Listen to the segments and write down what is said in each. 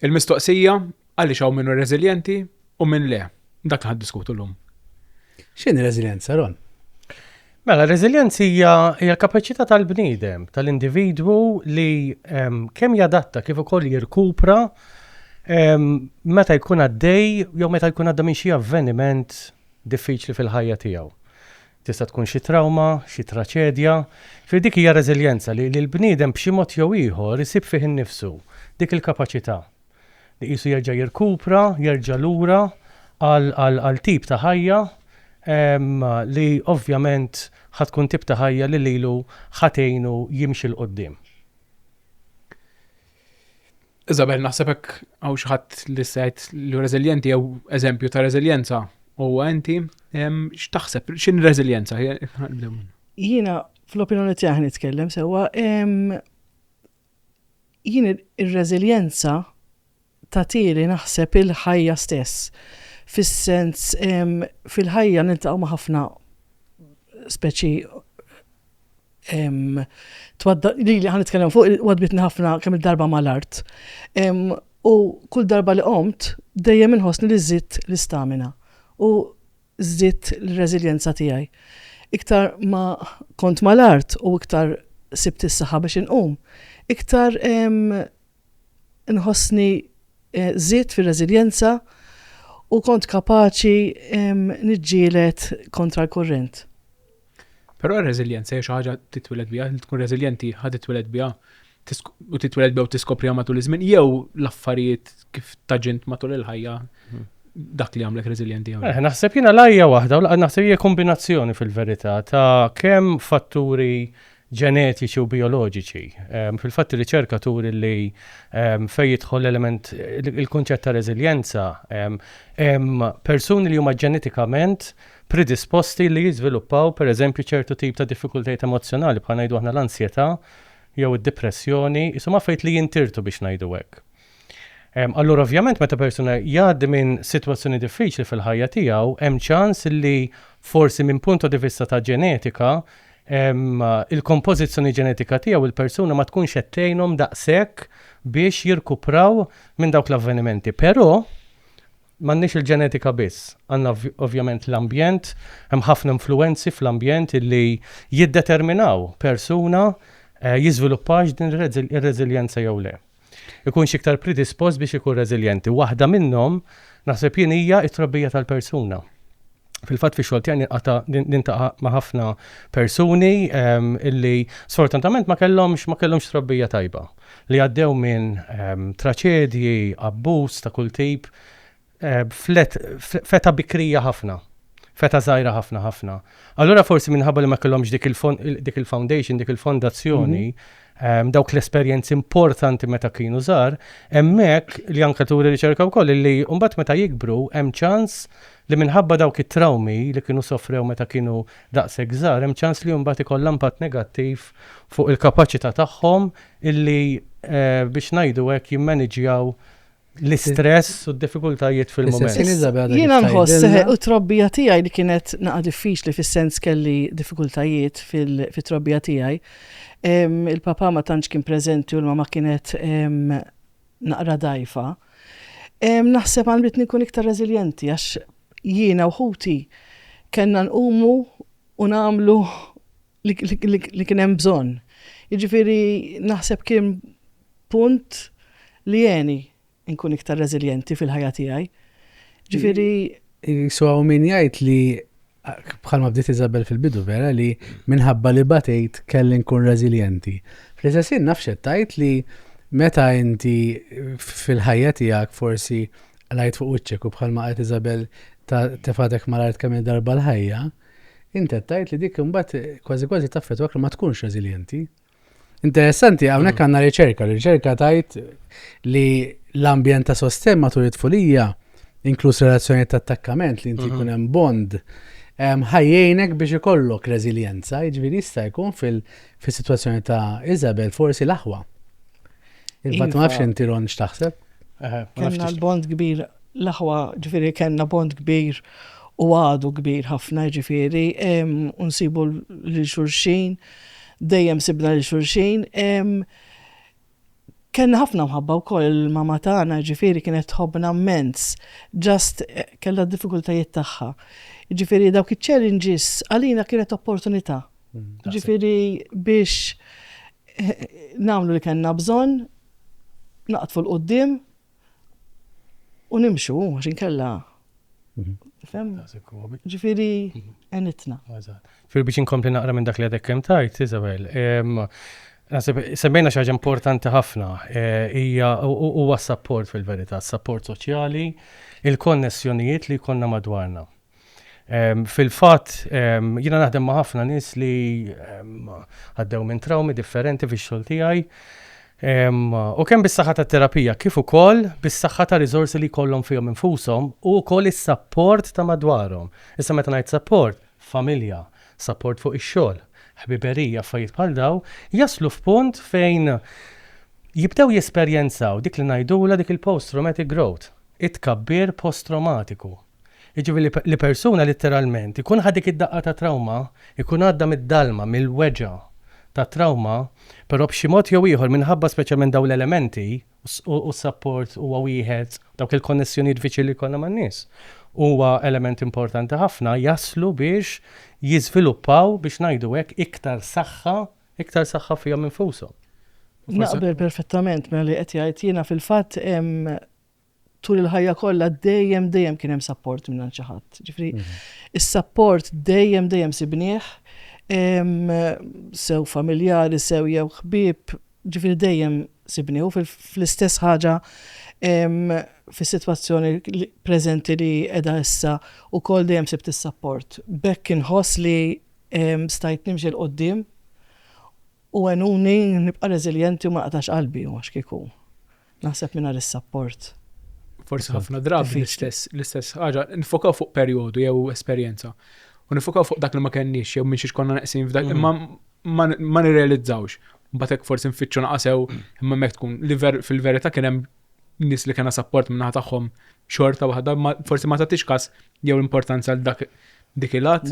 Il-mistoqsija għaliex hawn minnu reżiljenti u minn le. Dak li diskutu l-lum. X'inhi reżiljenza, Ron? Mela, r-reżiljenza hija l-kapaċità tal-bniedem, tal-individwu li ehm, kemm jadatta kif ukoll jirkupra ehm, meta jkun għaddej jew meta jkun għadda minn xi avveniment diffiċli fil-ħajja tiegħu. Tista' tkun xi trawma, xi traċedja, fi dik hija reżiljenza li l-bniedem b'xi mod jew ieħor isib fih innifsu dik il-kapaċità li qisu jerġa' jirkupra, jerġa' lura għal tip ta' ħajja li ovvjament ħa tkun tip ta' ħajja li lilu ħa tgħinu jimxi 'l quddiem. Isabel, naħseb hekk hawn xi ħadd li sejt li reżiljenti jew eżempju ta' reżiljenza u inti x'taħseb x'in reżiljenza? Jiena fl-opinjoni tiegħi nitkellem sewwa Jien ir-reżiljenza tagħtili naħseb il-ħajja stess, fis-sens fil-ħajja niltaqgħu ma' ħafna speċi lili ħa nitkellem fuq għadbitni ħafna kemm il-darba mal-art. U kull darba li qomt dejjem inħossni li żidt l-istamina. U żdied l-reżiljenza tiegħi. Iktar ma kont mal-art u iktar sibt is-saħħa biex inqum, iktar nħossni żidt fir-reżiljenza u kont kapaċi niġġieled kontra l-kurrent. Però r-reżiljenza hija xi ħaġa titwiled biha, li tkun reżiljenti ħa titwiled biha u titwiled biha u tiskopriha matul iż-żmien jew l-affarijiet kif taġint matul il-ħajja mhm. dak li għamlek reżiljenti jew. Eh, naħseb jiena l-ajja waħda u naħseb hija kombinazzjoni fil-verità ta' kemm fatturi ġenetiċi u bijoloġiċi. Fil-fatt ir-riċerka turi li fejn jidħol l-element, il-kunċett ta' reżiljenza, hemm persuni li huma ġenetikament predisposti li jiżviluppaw pereżempju ċertu tip ta' diffikultajiet emozzjonali bħal ngħidu aħna l-ansjetà jew id-dipressjoni, qishom affarijiet li jintirtu biex ngħidu hekk. Allura ovvjament meta persuna jgħaddi minn sitwazzjoni diffiċli fil-ħajja tiegħu, hemm ċans li forsi minn punt di vista ta' ġenetika il-kompożizzjoni ġenetika tiegħu il-persuna ma tkunx qed tgħinhom daqshekk biex jirkupraw minn dawk l-avvenimenti. Però m'għandniex il-ġenetika biss, għandna ovvjament l-ambjent, hemm ħafna influwenzi fl-ambjent li jiddeterminaw persuna jiżviluppax din ir-reżiljenza jew le. ikunx iktar predispost biex ikun reżiljenti. Waħda minnhom, naħseb jien, hija t-trobbija tal-persuna. Fil-fatt fix-xogħol tiegħi ninqata' nintaqa' ma' ħafna persuni ehm, illi sfortunatament ma kellhomx ma kellhomx trobbija tajba li għaddew minn ehm, traċedji, abbuż ta' kull tip, fl-et, feta bikrija ħafna, feta zaħira ħafna ħafna. Allura forsi minħabba li ma kellhomx dik il-foundation, dik il-fondazzjoni, mhm. dawk l-esperjenzi importanti meta kienu żgħar, hemmhekk li anke turi riċerka wkoll li mbagħad meta jikbru hemm ċans li minħabba dawk it-trawmi li kienu sofrew meta kienu daqshekk żgħar hemm ċans li mbagħad ikollha impatt negattiv fuq il-kapaċità tagħhom illi eh, biex ngħidu hekk jimmaniġjaw l-istress u d-diffikultajiet fil-moment. Jiena nħoss u trobbija tiegħi li kienet naqa' diffiċli fis-sens kelli diffikultajiet fit-trobbija tiegħi. Il-papa ma tantx kien preżenti u l-mama kienet naqra dgħajfa. Naħseb għanditni nkun iktar reżiljenti għax jiena u ħuti kellna nqumu u nagħmlu li kien hemm bżonn. Jiġifieri naħseb kien punt li jeni nkun iktar reżiljenti fil-ħajja tiegħi. Ġifieri. So hawn min jgħid li bħalma bdiet Isabel fil-bidu vera li minħabba li batejt kelli nkun reżiljenti. Fl-istessin nafxet tajt li meta inti fil-ħajja tiegħek forsi lajt fuq wiċċek u bħalma qed Isabel ta' tefatek mal-art kemm darba l-ħajja, Inti qed tgħid li dik imbagħad kważi kważi taffettwak li ma tkunx reżiljenti. Interessanti, hawnhekk mm. għandna riċerka, riċerka tajt li l-ambjent ta' sostenn matul it-tfulija, inkluż relazzjoni ta' attakkament li inti mhm. jkun hemm bond, ħajjejnek biex ikollok reżiljenza, jiġifieri jista' jkun fil-sitwazzjoni ta' Isabel forsi l-aħwa. Il-bat ma nafx inti ron x'taħseb? Kenna l-bond kbir, l-aħwa ġifieri kenna bond kbir u għadu kbir ħafna ġifieri, unsibu lil xulxin, dejjem sibna lil xulxin. Kenna ħafna mħabba wkoll il-mama tagħna ġifieri kienet tħobbna mmens, ġast kellha d-diffikultajiet tagħha. Ġifieri dawk iċ-challenges għalina kienet opportunità Ġifiri biex namlu li kena bżon, naqtfu l-qoddim u nimxu, għaxin kella. Mhm. Fem? Ġifiri, mhm. enitna. Fir biex inkompli naqra minn dak li għadek kem tajt, Isabel, Semmejna xaġa importanti ħafna, e, hija huwa s-sapport fil-verità, s-sapport soċjali, il-konnessjonijiet li konna madwarna. Fil-fatt, jiena naħdem ma' ħafna nies li għaddew minn trawmi differenti fix-xogħol tiegħi. U kemm bis-saħħa tat-terapija kif ukoll bis-saħħa ta' riżorsi li jkollhom fihom infushom u wkoll is-sapport ta' madwarhom. Issa meta ngħid sapport, familja, sapport fuq ix-xogħol, ħbiberija, affarijiet bħal dawn, jaslu f'punt fejn jibdew jesperjenzaw dik li ngħidulha dik il-post-traumatic growth, it-tkabbir post-trawmatiku. Jiġifieri li persuna litteralment ikun ħa dik id-daqqa ta' trawma, ikun għadda mid-dalma, mill-weġgħa tat-trawma, però b'xi mod jew ieħor minħabba speċjalment dawn l-elementi, u s-sapport huwa wieħed, dawk il-konnessjonijiet viċin li jkollna man-nies, huwa element importanti ħafna, jaslu biex jiżviluppaw, biex ngħidu hekk, iktar saħħa, iktar saħħa fihom infushom. Naqbel perfettament ma' li qed jgħid. Jiena fil-fatt tul il-ħajja kollha dejjem dejjem kien hemm support minn xi ħadd. Ġifri, mhm. is-support dejjem dejjem sibnieh sew familjari, sew jew ħbieb, ġifri dejjem sibnieh u fl-istess ħaġa fis-sitwazzjoni preżenti li qiegħda issa u kol dejjem sibt is-support. Bekk inħoss li stajt nimxi l-qoddim u għenuni nibqa' reżiljenti u ma qalbi u għax kieku. Naħseb mingħajr is-sapport. Forsi ħafna drabi l-istess ħaġa, nifokaw fuq perjodu jew esperjenza. U nifokaw fuq dak li ma kenniex jew minn xiex konna neqsin f'dak, mm. imma ma nirrealizzawx. Batek forsi nfittxu naqasew, imma mek tkun li fil-verità kien hemm nis li kena sapport minna tagħhom xorta waħda, forsi ma tagħtix kas jew l-importanza għal dak dik il-għat.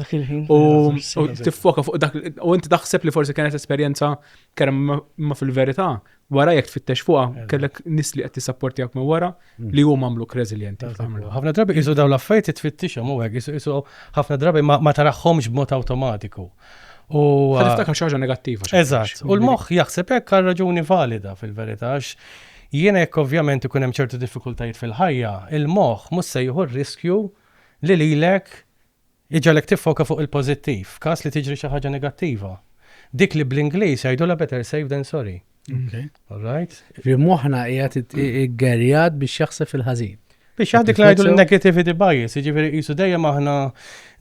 U tiffoka fuq dak, u inti taħseb li forsi kienet esperjenza kerem ma fil-verità, wara jekk tfittex fuqha kellek nis li qed tisapportjak minn wara mm. li huma għamluk reżiljenti. Ħafna drabi qisu dawn l-affarijiet tfittixhom u hekk qisu ħafna drabi ma taraħħomx b'mod awtomatiku. U tiftakar xi ħaġa negattiva. Eżatt. U l-moħħ jaħseb hekk għal raġuni valida fil-verità għax jiena jekk ovvjament ikun hemm ċertu diffikultajiet fil-ħajja, il-moħħ mhux se jieħu riskju li lilek Iġegħlek tiffoka fuq il-pożittiv f'każ li tiġri xi ħaġa negattiva. Dik li bl-Ingliż jgħidulha better safe than sorry. Okay. All right? Fi moħħna qiegħed iggerjat biex jaħseb fil-ħażin. Biex jaħdik ngħidu l-negativity bias, jiġifieri qisu dejjem aħna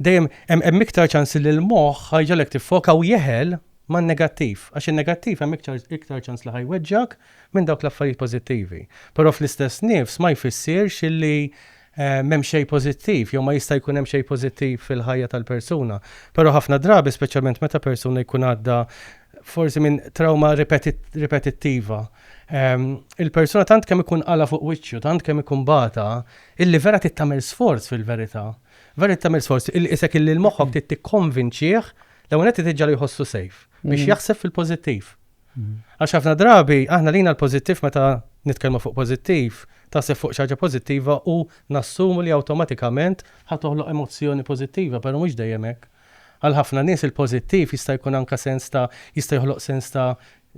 dejjem hemm iktar ċans li l-moħħ ħajġalek tiffoka u jeħel ma' negattiv, għax il-negattiv hemm iktar ċans li ħajweġġak minn dawk l-affarijiet pożittivi. Però fl-istess nifs ma jfissirx illi M'hemm xejn pożittiv, jew ma jista' jkun hemm xejn pożittiv fil-ħajja tal-persuna. Però ħafna drabi, speċjalment meta persuna jkun għadda forsi minn trawma ripetittiva, il-persuna tant kemm ikun qala' fuq wiċċu, tant kemm ikun bata, illi vera trid tagħmel sforz fil-verità. Vera trid tagħmel sforz, illi qisek illi l-moħħok trid tikkonvinċih, l-ewwel nett trid tiġġagħlu jħossu safe, biex jaħseb fil-pożittiv. Għax ħafna drabi aħna lina l-pożittiv meta nitkellmu fuq pożittiv, taħseb fuq xi ħaġa pożittiva u nassumu li awtomatikament ħa toħloq emozzjoni pożittiva, però mhux dejjem hekk. Għal ħafna nies il-pożittiv jista' jkun anke sens ta' jista' joħloq sens ta'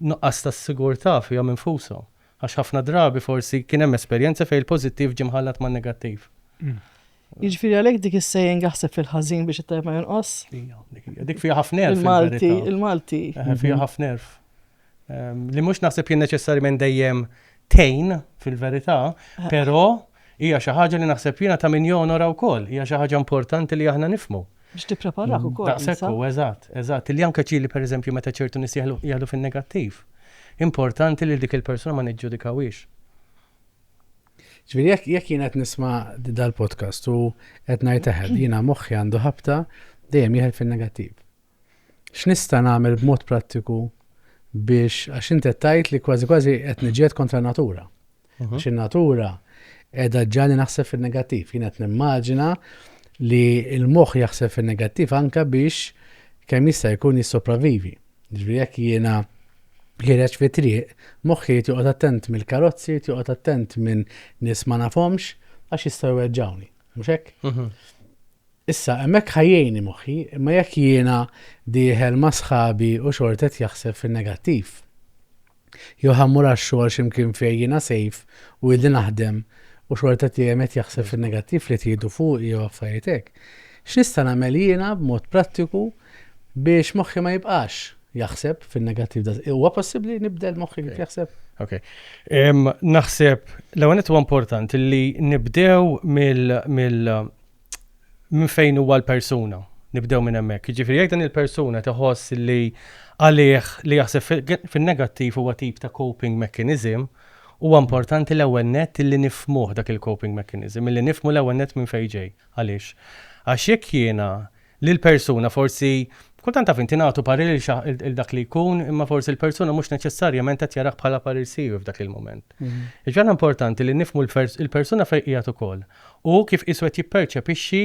nuqqas ta' sigurtà fihom infushom. Għax ħafna drabi forsi kien hemm esperjenza fejn il-pożittiv ġie mħallat man-negattiv. Jiġifieri għalhekk dik is-saying aħseb fil-ħażin biex it-tajjeb ma jonqos? Hija, dik hija. Dik fiha ħafna għerf. Il-Malti, il-Malti. Eħe, fiha ħafna għerf. Ehm, li mhux naħseb jien neċessarjament dejjem tejn fil-verità, eh. però hija xi ħaġa li naħseb jiena ta' min jonora wkoll, hija xi ħaġa importanti li aħna nifmu. Biex tippreparah ukoll. Daqshekk hu, eżatt, eżatt. Illi anke ġieli pereżempju meta ċertu nies jieħdu fin-negattiv, importanti li dik il-persuna ma niġġudikawhiex. Ġifieri jekk jien qed nisma' dal-podcast u qed ngħid eħel, jiena moħħi għandu ħabta dejjem jieħel fin-negattiv. X'nista' nagħmel b'mod prattiku biex għax inti qed tgħid li kważi kważi qed niġġieled kontra natura. Mhm. Għax in-natura edha ġani naħseb fil-negattiv. Jien qed nimmaġina li l-moħħ jaħseb fil-negattiv anka biex kemm jista' jkun jissopravivi. Ġifieri jekk jiena ħireġ fi triq, moħħi joqgħod attent mill-karozzi, joqgħod attent minn nies ma nafhomx għax jistgħu weġġawni. Mhux hekk? Mhm. Issa, hemmhekk ħajjejni moħħi, imma jekk jiena dieħel ma' sħabi u xortet jaħseb fin-negattiv. Jew ħa mmur għax-xogħol xi mkien fejn jiena safe u ili naħdem u xorta dejjem qed jaħseb fin-negattiv li qed jgħidu fuqi jew affarijiet hekk. X'nista' nagħmel jiena b'mod prattiku biex moħħi ma jibqax jaħseb fin-negattiv da. Huwa possibbli nibdel moħħi kif jaħseb? Ok. Naħseb l-ewwel huwa importanti li nibdew mill minn fejn huwa l-persuna. Nibdew minn hemmhekk. Jiġifieri jekk din il-persuna qed iħoss li għalih li jaħseb fin-negattiv huwa tip ta' coping mechanism, huwa importanti l-ewwel nett illi nifhmuh dak il-coping mechanism, illi nifhmu l-ewwel nett minn fejn ġej. Għaliex? Għax jekk jiena lill-persuna forsi, kultant taf int ingħatu parir lil xi lil dak li jkun imma forsi l-persuna mhux neċessarjament qed jarah bħala parir siwi f'dak il-mument. Jiġifieri aħna importanti li nifhmu l-persuna fejn qiegħed ukoll. Hu kif qisu qed jipperċepixxi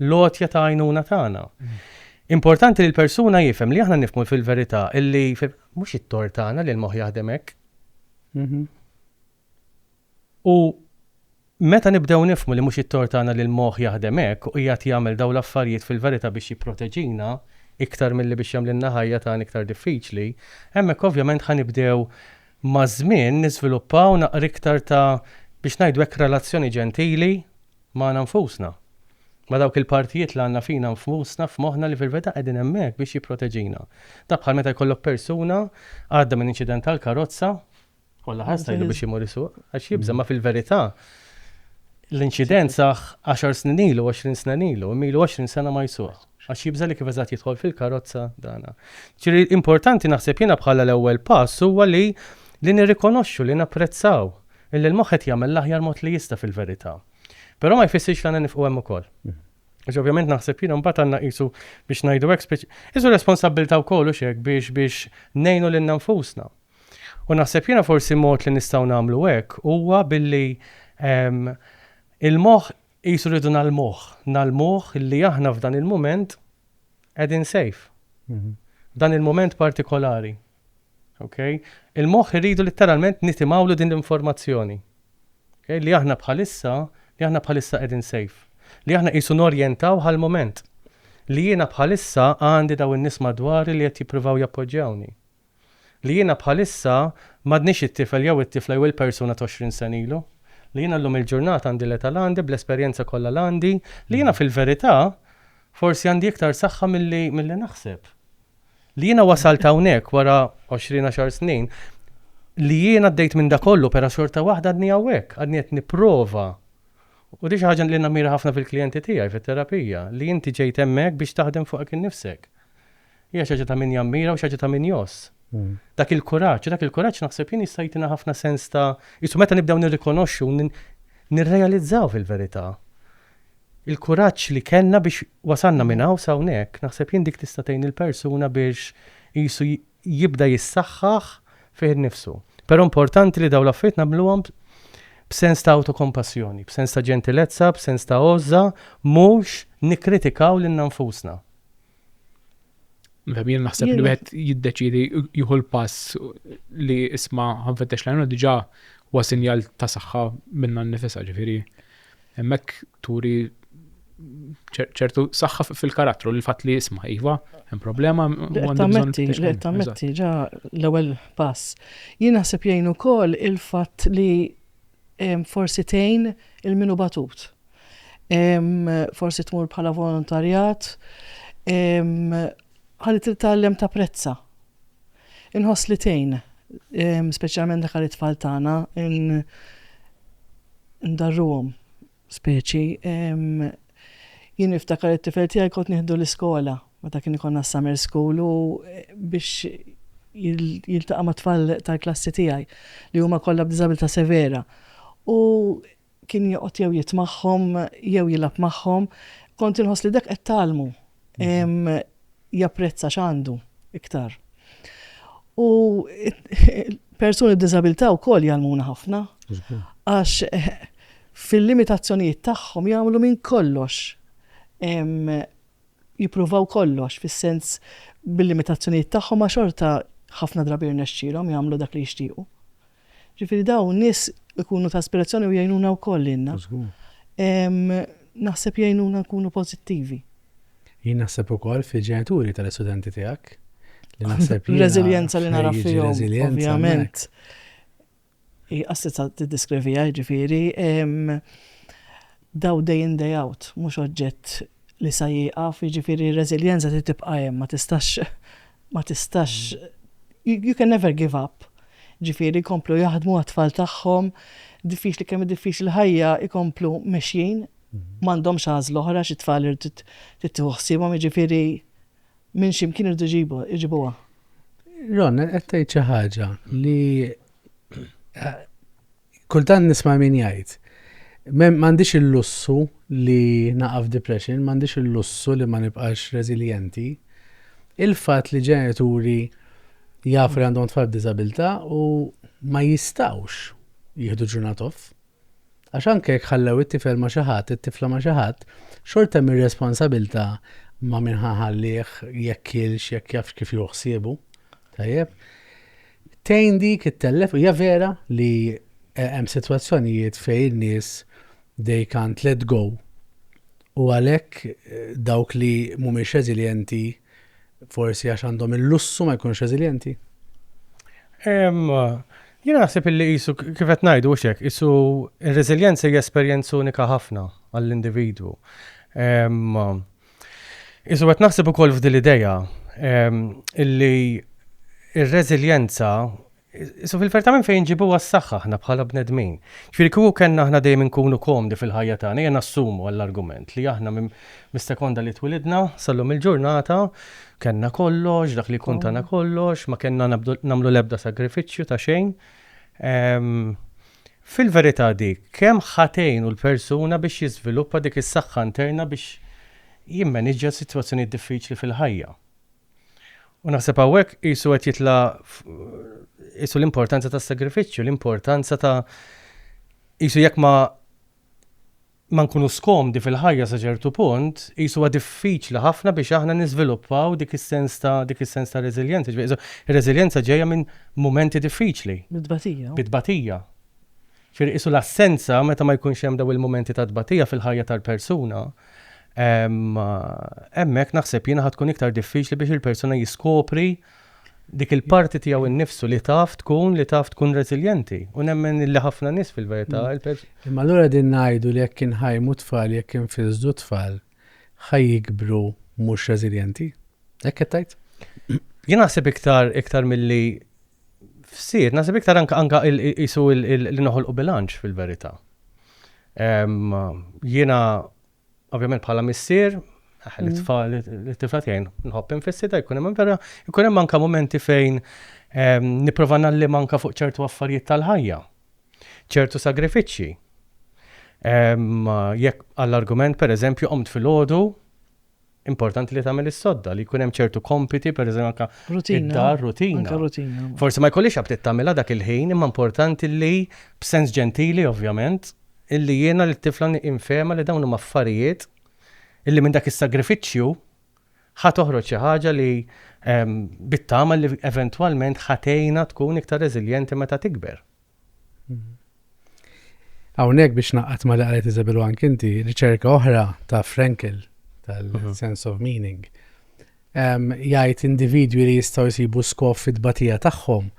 l-għotja ta' għajnuna tagħna. Importanti li l-persuna jifhem li aħna nifhmu fil-verità li mhux it-tort tagħna li l-moħħ jaħdem hekk. U meta nibdew nifhmu li mhux it-tort tagħna li l-moħħ jaħdem hekk u qiegħed jagħmel dawn l-affarijiet fil-verità biex jipproteġina iktar milli biex jagħmlilna ħajja tagħna iktar diffiċli, hemmhekk ovvjament ħa nibdew Maż-żmien niżviluppaw naqra iktar ta' biex ngħidu hekk relazzjoni ġentili magħna nfusna. Ma' dawk il-partijiet li għandna fina nfusna, f'moħħna li fil-verità qegħdin hemmhekk biex jipproteġina. Dak bħal meta jkollok persuna għadda minn inċident tal-karozza, kollha ħass tgħidlu biex imur isuq, għax jibża' ma' fil-verità l-inċident sah għaxar snin ilu, għoxrin sena ilu, imma ilu għoxrin sena ma jsuq. Għax jibża' li kif eżatt jidħol fil-karozza dan. Ġifieri importanti naħseb jiena bħala l-ewwel pass huwa li li nirrikonoxxu, li napprezzaw illi l-moħħ qed jagħmel l-aħjar mod li jista' fil-verità. Però ma jfissirx li għandna nifqu hemm ukoll. Għax ovvjament naħseb jiena mbagħad għandna qisu biex ngħidu hekk speċi qisu responsabbiltà wkoll hux hekk biex biex ngħinu lilna nfusna. U naħseb jiena forsi mod li nistgħu nagħmlu hekk huwa billi il-moħħ Qisu rridu ngħallmuh, ngħallmuh li aħna f'dan il-mument qegħdin safe. F'dan il-mument partikolari. Okay? Il-moħħ irridu litteralment nitimgħulu din l-informazzjoni. Okay? Li aħna bħalissa, li aħna bħalissa qegħdin safe. Li aħna qisu norjentaw għal-mument. Li jiena bħalissa għandi daw in-nies madwari li qed jippruvaw jappoġġjawni. Li jiena bħalissa m'għadnix it-tifel jew it-tifla jew il-persuna ta' għoxrin sena ilu. Li jiena llum il-ġurnata għandi l-età l-għandi bl-esperjenza kollha l-għandi. Li jiena fil-verità forsi għandi iktar saħħa milli milli naħseb. Li jiena wasalt hawnhekk wara għoxrin għaxar snin. Li jiena għaddejt minn da kollu pera xorta waħda għadni hawnhekk, għadni qed nipprova. U di xi ħaġa li nammira ħafna fil-klijenti tiegħi fit-terapija, li inti ġejt hemmhekk biex taħdem fuqek innifsek. Hija xi ħaġa ta' min jammira u xi ħaġa ta' min jgħożż. Dak il-kuraġġ, u dak il-kuraġġ naħseb jien jista' jtina ħafna sens ta' qisu meta nibdew nirrikonoxxu u nirrealizzaw fil-verità il-kuraġġ li kellna biex wasalna minn hawn s'hawnhekk, naħseb jien dik tista' tgħin il-persuna biex qisu jibda jissaħħaħ fih innifsu. Però importanti li dawn l-affarijiet nagħmluhom b'sens ta' awtokompassjoni, b'sens ta' ġentilezza, b'sens ta' għożża, mhux nikkritikaw lilna nfusna. Jien naħseb li wieħed jiddeċidi jieħu l-pass li isma ħanfettex lajnu diġà huwa sinjal ta' saħħa minna nnifisha ġifieri. Hemmhekk turi ċertu saħħa fil-karattru li fatt li jisma' iva, hemm problema. Tammetti ġa l-ewwel pass. Jien naħseb jgħin ukoll il-fatt li forsi tgħin il min hu batut. Forsi tmur bħala volontarjat, ħalli titgħallem tapprezza. Inħoss li tgħin, speċjalment dak għal it-tfal tagħna, ndarruhom. Speċi, jien niftakar it-tifel tiegħi kont nieħdu l-iskola meta kien ikollna s-summer school u biex jiltaqa' mat-tfal tal-klassi tiegħi li huma kollha b'diżabilità severa. U kien joqgħod jew jitmagħhom jew jilgħab magħhom. Kont inħoss li dak qed tgħallmu. japprezza x'għandu iktar. U persuni b'diżabilità wkoll jgħallmuna ħafna għax fil-limitazzjonijiet tagħhom jagħmlu minn kollox jippruvaw kollox fis-sens bil-limitazzjonijiet tagħhom ma xorta ħafna drabi jirnexxilhom jagħmlu dak li jixtiequ. Ġifieri dawn nies ikunu ta' ispirazzjoni u jgħinuna wkoll lilna. Żgur. Naħseb jgħinuna nkunu pożittivi. Jien naħseb ukoll fil-ġenituri tal-istudenti tiegħek li naħseb jiena. Reżiljenza li nara fihom. Reżiljenza. Ovvjament. Qassi sa tiddeskrivija jiġifieri. Daw day in day out, mhux oġġett li sa jieqaf, jiġifieri r-reżiljenza trid tibqa' hemm, ma tistax ma tistax, you can never give up. Ġifieri jkomplu jaħdmu għat-tfal tagħhom, diffiċli kemm diffiċli l-ħajja jkomplu mexjin, m'għandhomx għażla oħra xi tfal irid tittiħu ħsiebhom, jiġifieri minn x'imkien irdu ġibu, iġibuha. Ron, qed tgħid xi ħaġa li Kultant nisma' min jgħid, M'għandix il-lussu li naqa' f'depression, m'għandix il-lussu li ma nibqax reżiljenti. Il-fatt li ġenituri jafu li għandhom tfal b'diżabilità u ma jistgħux jieħdu ġurnat off, għax anke jekk ħallew it-tifel ma' xi ħadd, it-tifla ma' xi ħadd, xorta hemm ir-responsabilità ma' min ħa nħallih, jekk kielx, jekk jafx kif jieħu ħsiebu. Tajjeb? Tgħin dik ittellef, hija vera li hemm sitwazzjonijiet fejn in-nies they can't let go u għalhekk dawk li mhumiex reżiljenti forsi għax għandhom il-lussu ma jkunux reżiljenti? Jiena naħseb illi qisu kif qed ngħidu hux hekk, qisu r-reżiljenza hija esperjenza unika ħafna għall-individwu. Isu qed naħseb ukoll f'din l-idea ehm, illi ir-reżiljenza Isu fil-ferta minn fejn ġibu għas-saxħa ħna bħala bnedmin. Ġifieri kieku kellna aħna dejjem inkunu komdi fil-ħajja tagħna, jien nassumu għall-argument li aħna mis-sekonda li twilidna sallum il-ġurnata kellna kollox, dak li jkun tagħna mm. kollox, ma kellna nagħmlu l-ebda sagrifiċċju ta' xejn. Ehm, Fil-verità dik kemm ħa tgħinu l-persuna biex jiżviluppa dik is-saħħa interna biex jimmaniġġja s-sitwazzjonijiet diffiċli fil-ħajja. U naħseb hawnhekk qisu qed jitla' qisu l-importanza tas-sagrifiċċju, l-importanza ta' qisu jekk ma ma nkunux komdi fil-ħajja sa ċertu punt, qisu huwa diffiċli ħafna biex aħna niżviluppaw dik is-sens ta' dik is-sens ta' reżiljenza. Ġifieri so, ir-reżiljenza ġejja minn mumenti diffiċli. Mit-tbatija. Mit-tbatija. Ġifieri qisu l-assenza meta ma jkunx hemm dawn il-mumenti ta' tbatija fil-ħajja tal-persuna, hemmhekk naħseb jiena ħa tkun iktar diffiċli biex il-persuna jiskopri dik il-parti tiegħu nnifsu li taf tkun li taf tkun reżiljenti u nemmen illi ħafna nies fil-verità il-pers. Imma allura qegħdin ngħidu li jekk inħajmu t-tfal jekk infisdu t-tfal ħa jikbru mhux reżiljenti? Hekk qed tgħid? Jien naħseb iktar iktar milli fsir, naħseb iktar anka anka qisu li noħolqu bilanċ fil-verità. Jiena Ovvjament bħala missier, aħ, li tfal, li tifla tiegħi nħobb infissita, jkun hemm vera, jkun hemm anke mumenti fejn ehm, nipprova nallim anke fuq ċertu affarijiet tal-ħajja, ċertu sagrifiċċji. Ehm, jekk għall-argument, per eżempju, qomt fil-ħodu, Importanti li tagħmel is-sodda li jkun hemm ċertu kompiti, pereżempju anke id-dar, rutina. Forsi ma jkollix aptit tagħmilha dak il-ħin, imma importanti li b'sens ġentili ovvjament, illi jiena lit-tifla infehimha li dawn huma affarijiet illi minn dak is-sagrifiċċju ħa toħroġ xi ħaġa li bit-tama li eventwalment ħa tgħinha tkun iktar reżiljenti meta tikber. Hawnhekk biex naqgħad ma li qalet Isabel anke inti, riċerka oħra ta' Frankel tal-sense of meaning. Jgħid individwi li jistgħu jsibu skof fit-batija tagħhom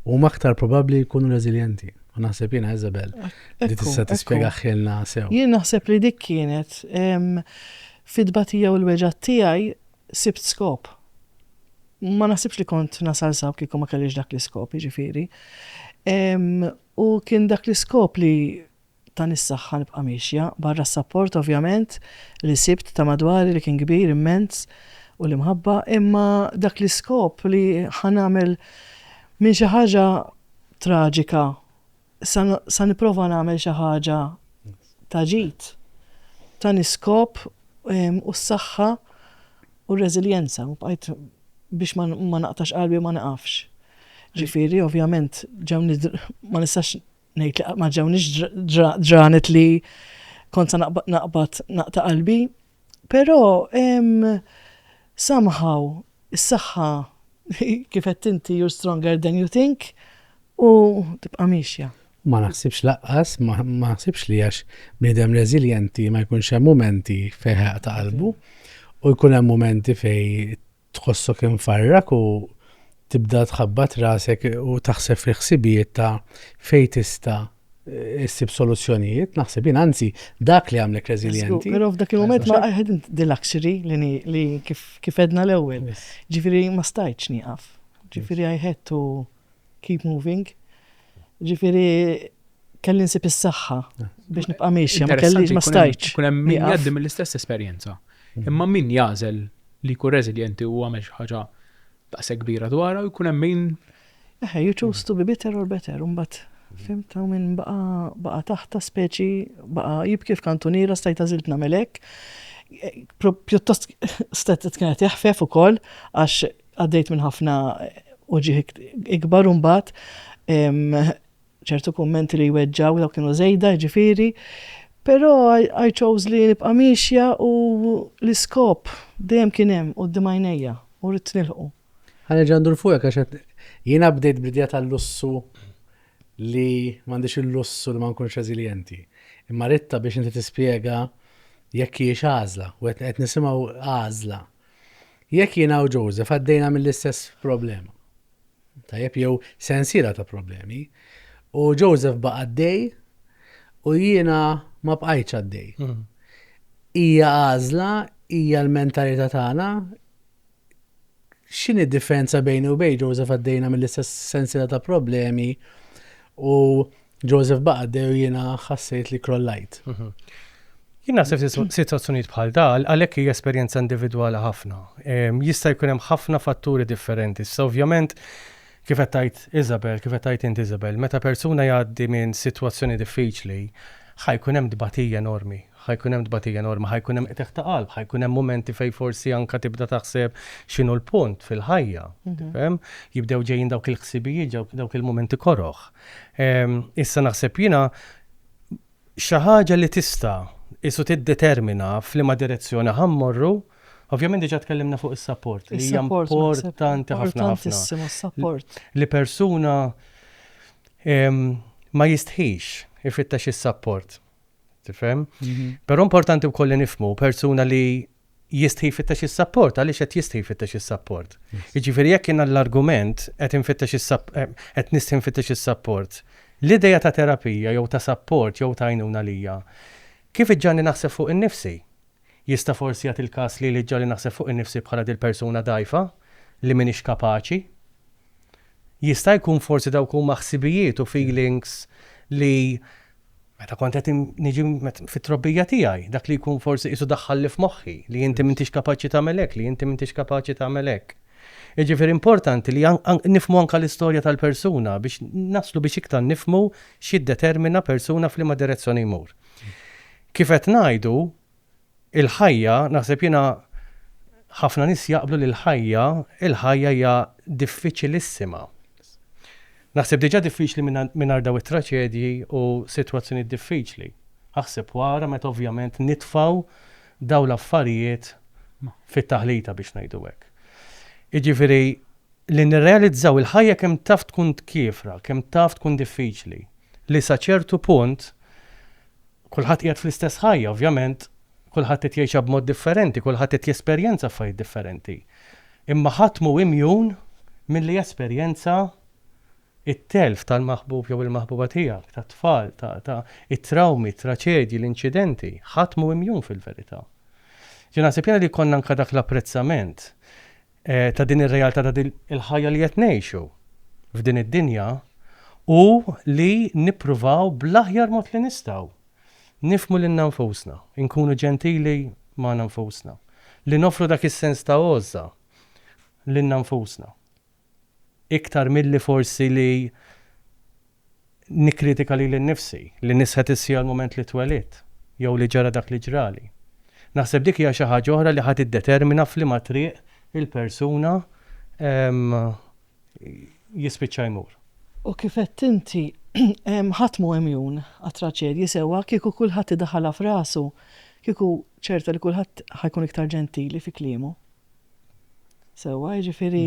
huma aktar probabbli jkunu reżiljenti. U naħseb jiena Isabel li tista' tispjega ħilna sew. Jien naħseb li dik kienet fit-batija u l-weġgħat tiegħi sibt skop. Ma naħsibx li kont nasal saw kieku ma kellix dak l-iskop, jiġifieri. U kien dak l-iskop li tani s-saħħa nibqa' miexja, barra s-sapport ovvjament li sibt ta' madwari li kien kbir immens u l-imħabba, imma dak l-iskop li ħa nagħmel minn xi ħaġa traġika Sa nipprova nagħmel xi ħaġa ta' ġid, tani s-skop u s-saħħa u r-reżiljenza u bqajt biex ma naqtax qalbi u ma niqafx. Ġifieri, ovvjament, ġewni ma nistax ngħid li ma ġewnix ġranet li kont sa naqbad naqta' qalbi, Però hemm somehow is-saħħa kif għedt inti you're stronger than you think u tibqa' miexja. Ma naħsibx lanqas, ma naħsibx li għax bniedem reżiljenti ma jkunx hemm mumenti fejn ħeraq ta' qalbu u jkun hemm mumenti fejn Tħossok imfarrak u tibda tħabbat rasek u taħseb fil-ħsibijiet ta' fejn tista' issib soluzzjonijiet, naħseb jien, anzi, dak li għamlek reżiljenti. Però f'dak il-moment ma għedin the luxury li kif edna l-ewwel. Ġifieri ma stajtx nieqaf. Ġifieri I had to keep moving. Ġifieri kelli nsib is-saħħa biex nibqa' miexja, ma kellix ma stajtx. Kun hemm min jgħaddi mill-istess esperjenza. Mm. Imma min jagħżel li jkun reżiljenti u għamel xi ħaġa daqshekk kbira dwarha u jkun hemm min. Eħe, you choose to be bitter or better, imbagħad fim ta' minn baqa baqa taħta speċi baqa jibki f'kantuniera stajta zilt namelek. Pjuttost stet kienet jaħfef ukoll għax Għaddejt minn ħafna uġigħ ikbar u mbagħad ċertu kummenti li jweġġgħu dawk kienu żejda jiġifieri, però I chose li nibqa' miexja u l-iskop dejjem kien hemm quddiem għajnejja u ridt nilħqu. Ħa nerġa' ndur fuqek għax qed jiena bdejt bl-idea tal-lussu li m'għandix il-lussu li ma nkunx reżiljenti. Imma ridt biex inti tispjega jekk hijiex għażla u qed nisimgħu għażla. Jekk jiena u Joseph għaddejna mill-istess problema, tajjeb jew sensiela ta' problemi, u Joseph baqa' għaddej u jiena ma bqajtx għaddej. Hmm. Hija għażla, hija l-mentalità tagħna. X'inhi differenza bejni u bejn Joseph għaddejna mill-istess sensiela ta' problemi u Joseph Baqad u jiena ħassejt li krollajt. Mhm. Jien naħseb situazzjonijiet bħal dal, għalhekk hija esperjenza individwali ħafna. Jista' jkun hemm ħafna fatturi differenti. Sa ovvjament kif qed tgħid Isabel, kif qed tgħid int Isabel, meta persuna jgħaddi minn sitwazzjoni diffiċli, ħajkun hemm tbatija enormi, ħajkun hemm tbatija enormi, ħajkun hemm qteħ ta' qalb, ħajkun hemm momenti fejn forsi anka tibda taħseb x'inhu l-punt fil-ħajja. Mhm. Jibdew ġejjin dawk il-ħsibijiet, dawk il-momenti koroħ. Issa naħseb jiena xi ħaġa li tista' isu tiddetermina f'liema direzzjoni ħa mmorru, ovvjament diġà tkellimna fuq is-sapport li hija importanti ħafna ħafna. Li persuna ma jistħix ifittex is-sapport. Tifhem? Però importanti wkoll li nifhmu persuna li jistħi jfittex is-sapport, għaliex qed jistħi jfittex is-sapport. Jiġifieri jekk jiena l-argument qed infittex eh, qed nistħi nfittex is-sapport, l-idea ta' terapija jew ta' sapport jew ta' għajnuna lija, kif iġġanni naħseb fuq innifsi? Jista' forsi jagħti l-każ li li ġġalli naħseb fuq innifsi bħala dil-persuna dgħajfa li m'iniex kapaċi? Jista' jkun forsi dawk huma ħsibijiet u feelings li meta kont qed niġi fit-trobbija tiegħi, dak li jkun forsi qisu daħħalli f'moħħi li inti m'intix kapaċi tagħmel hekk, li inti m'intix kapaċi tagħmel hekk. Jiġifieri importanti li nifhmu anke l-istorja tal-persuna biex naslu biex iktar nifhmu x'jiddetermina persuna f'liema direzzjoni jmur. Kif qed ngħidu, Il-ħajja, naħseb jiena ħafna nies jaqblu li l-ħajja, il-ħajja hija diffiċilissima. Naħseb diġà diffiċli mingħajr dawn it-traċedji u sitwazzjonijiet diffiċli. Aħseb wara meta ovvjament nitfgħu dawn l-affarijiet fit-taħlita biex ngħidu hekk. Jiġifieri li nirrealizzaw il-ħajja kemm taf tkun tkiefra, kemm taf tkun diffiċli, li sa ċertu punt Kulħadd qiegħed fl-istess ħajja, ovvjament kulħadd qed jgħixha b'mod differenti, kulħadd qed jesperjenza affarijiet differenti. Imma ħadd mhu imjun milli jesperjenza t-telf tal-maħbub jew il-maħbuba tiegħek, tat-tfal, ta', ta', it-trawmi, t-traċedji, l-inċidenti. Ħadd mhu imjun fil-verità. Ġieli naħseb jiena li jkollna anke dak l-apprezzament. eh, ta' din ir-realtà ta' din il-ħajja li qed ngħixu f'din id-dinja u li nippruvaw bl-aħjar mod li nistgħu nifmu lil nfusna, inkunu ġentili ma' nfusna, li nofru dak is-sens ta' għożża lil nfusna. Iktar milli forsi li nikkritika lili nnifsi, li nisħet is-siegħa l-mument li twelidt, jew li ġara dak li ġrali. Naħseb dik hija xi ħaġa oħra li ħa tiddetermina f'liema triq il-persuna jispiċċa jmur. U kif għedt inti, ħadd mhu imjun għat-traġedji sewwa, kieku kulħadd idaħħalha f'rasu, kieku ċerta li kulħadd ħa jkun iktar ġentili fi kliemu. Sewwa, jiġifieri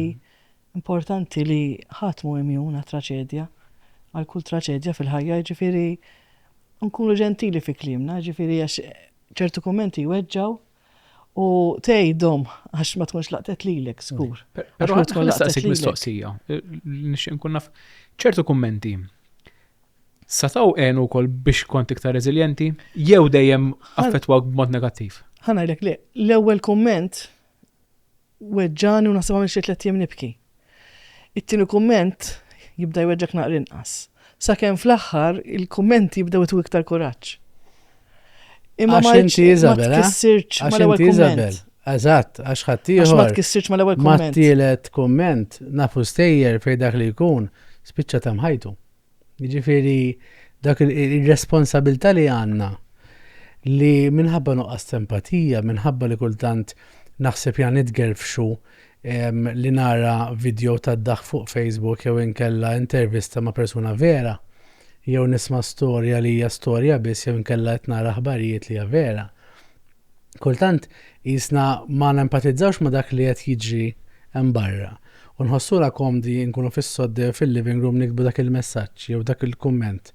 Importanti li ħadd mhu imjun għat-traċedja, għal kull traċedja fil-ħajja, jiġifieri nkunu ġentili fi kliemna, jiġifieri għax ċertu kummenti jweġġgħu u tgħidhom għax ma tkunx laqtet lilek żgur. Però ma tkun laqtet lilek. mistoqsija, nixtieq nkun naf ċertu kummenti sa taw għenu wkoll biex kont iktar reżiljenti jew dejjem affettwak b'mod negattiv? Ħanajlek li l-ewwel kumment weġġagħni u naħseb għamilt xi tliet ijiem nibki. It-tieni kumment jibda jweġġgħek naqra inqas. Sakemm fl-aħħar il-kummenti jibdew itwu iktar kuraġġ. Imma ma inti Isabel, ma tkissirx mal-ewwel kumment. Eżatt, għax ħaddieħor. Għax ma tkissirx mal-ewwel kumment. Ma tielet kumment, nafu stejjer fejn dak li jkun, spiċċa ta' mħajtu. Jiġifieri dak ir-responsabilità li għandna li minħabba nuqqas ta' empatija, minħabba li kultant naħseb ja nitgerfxu li nara vidjow tad-daħk fuq Facebook jew inkella intervista ma' persuna vera, jew nisma' storja li hija storja biss jew inkella qed nara aħbarijiet li hija vera. Kultant qisna ma nempatizzawx ma' dak li qed jiġri hemm barra, u nħossuna komdi nkunu fis-sodde fil-living room niktbu dak il-messaġġ jew dak il-kumment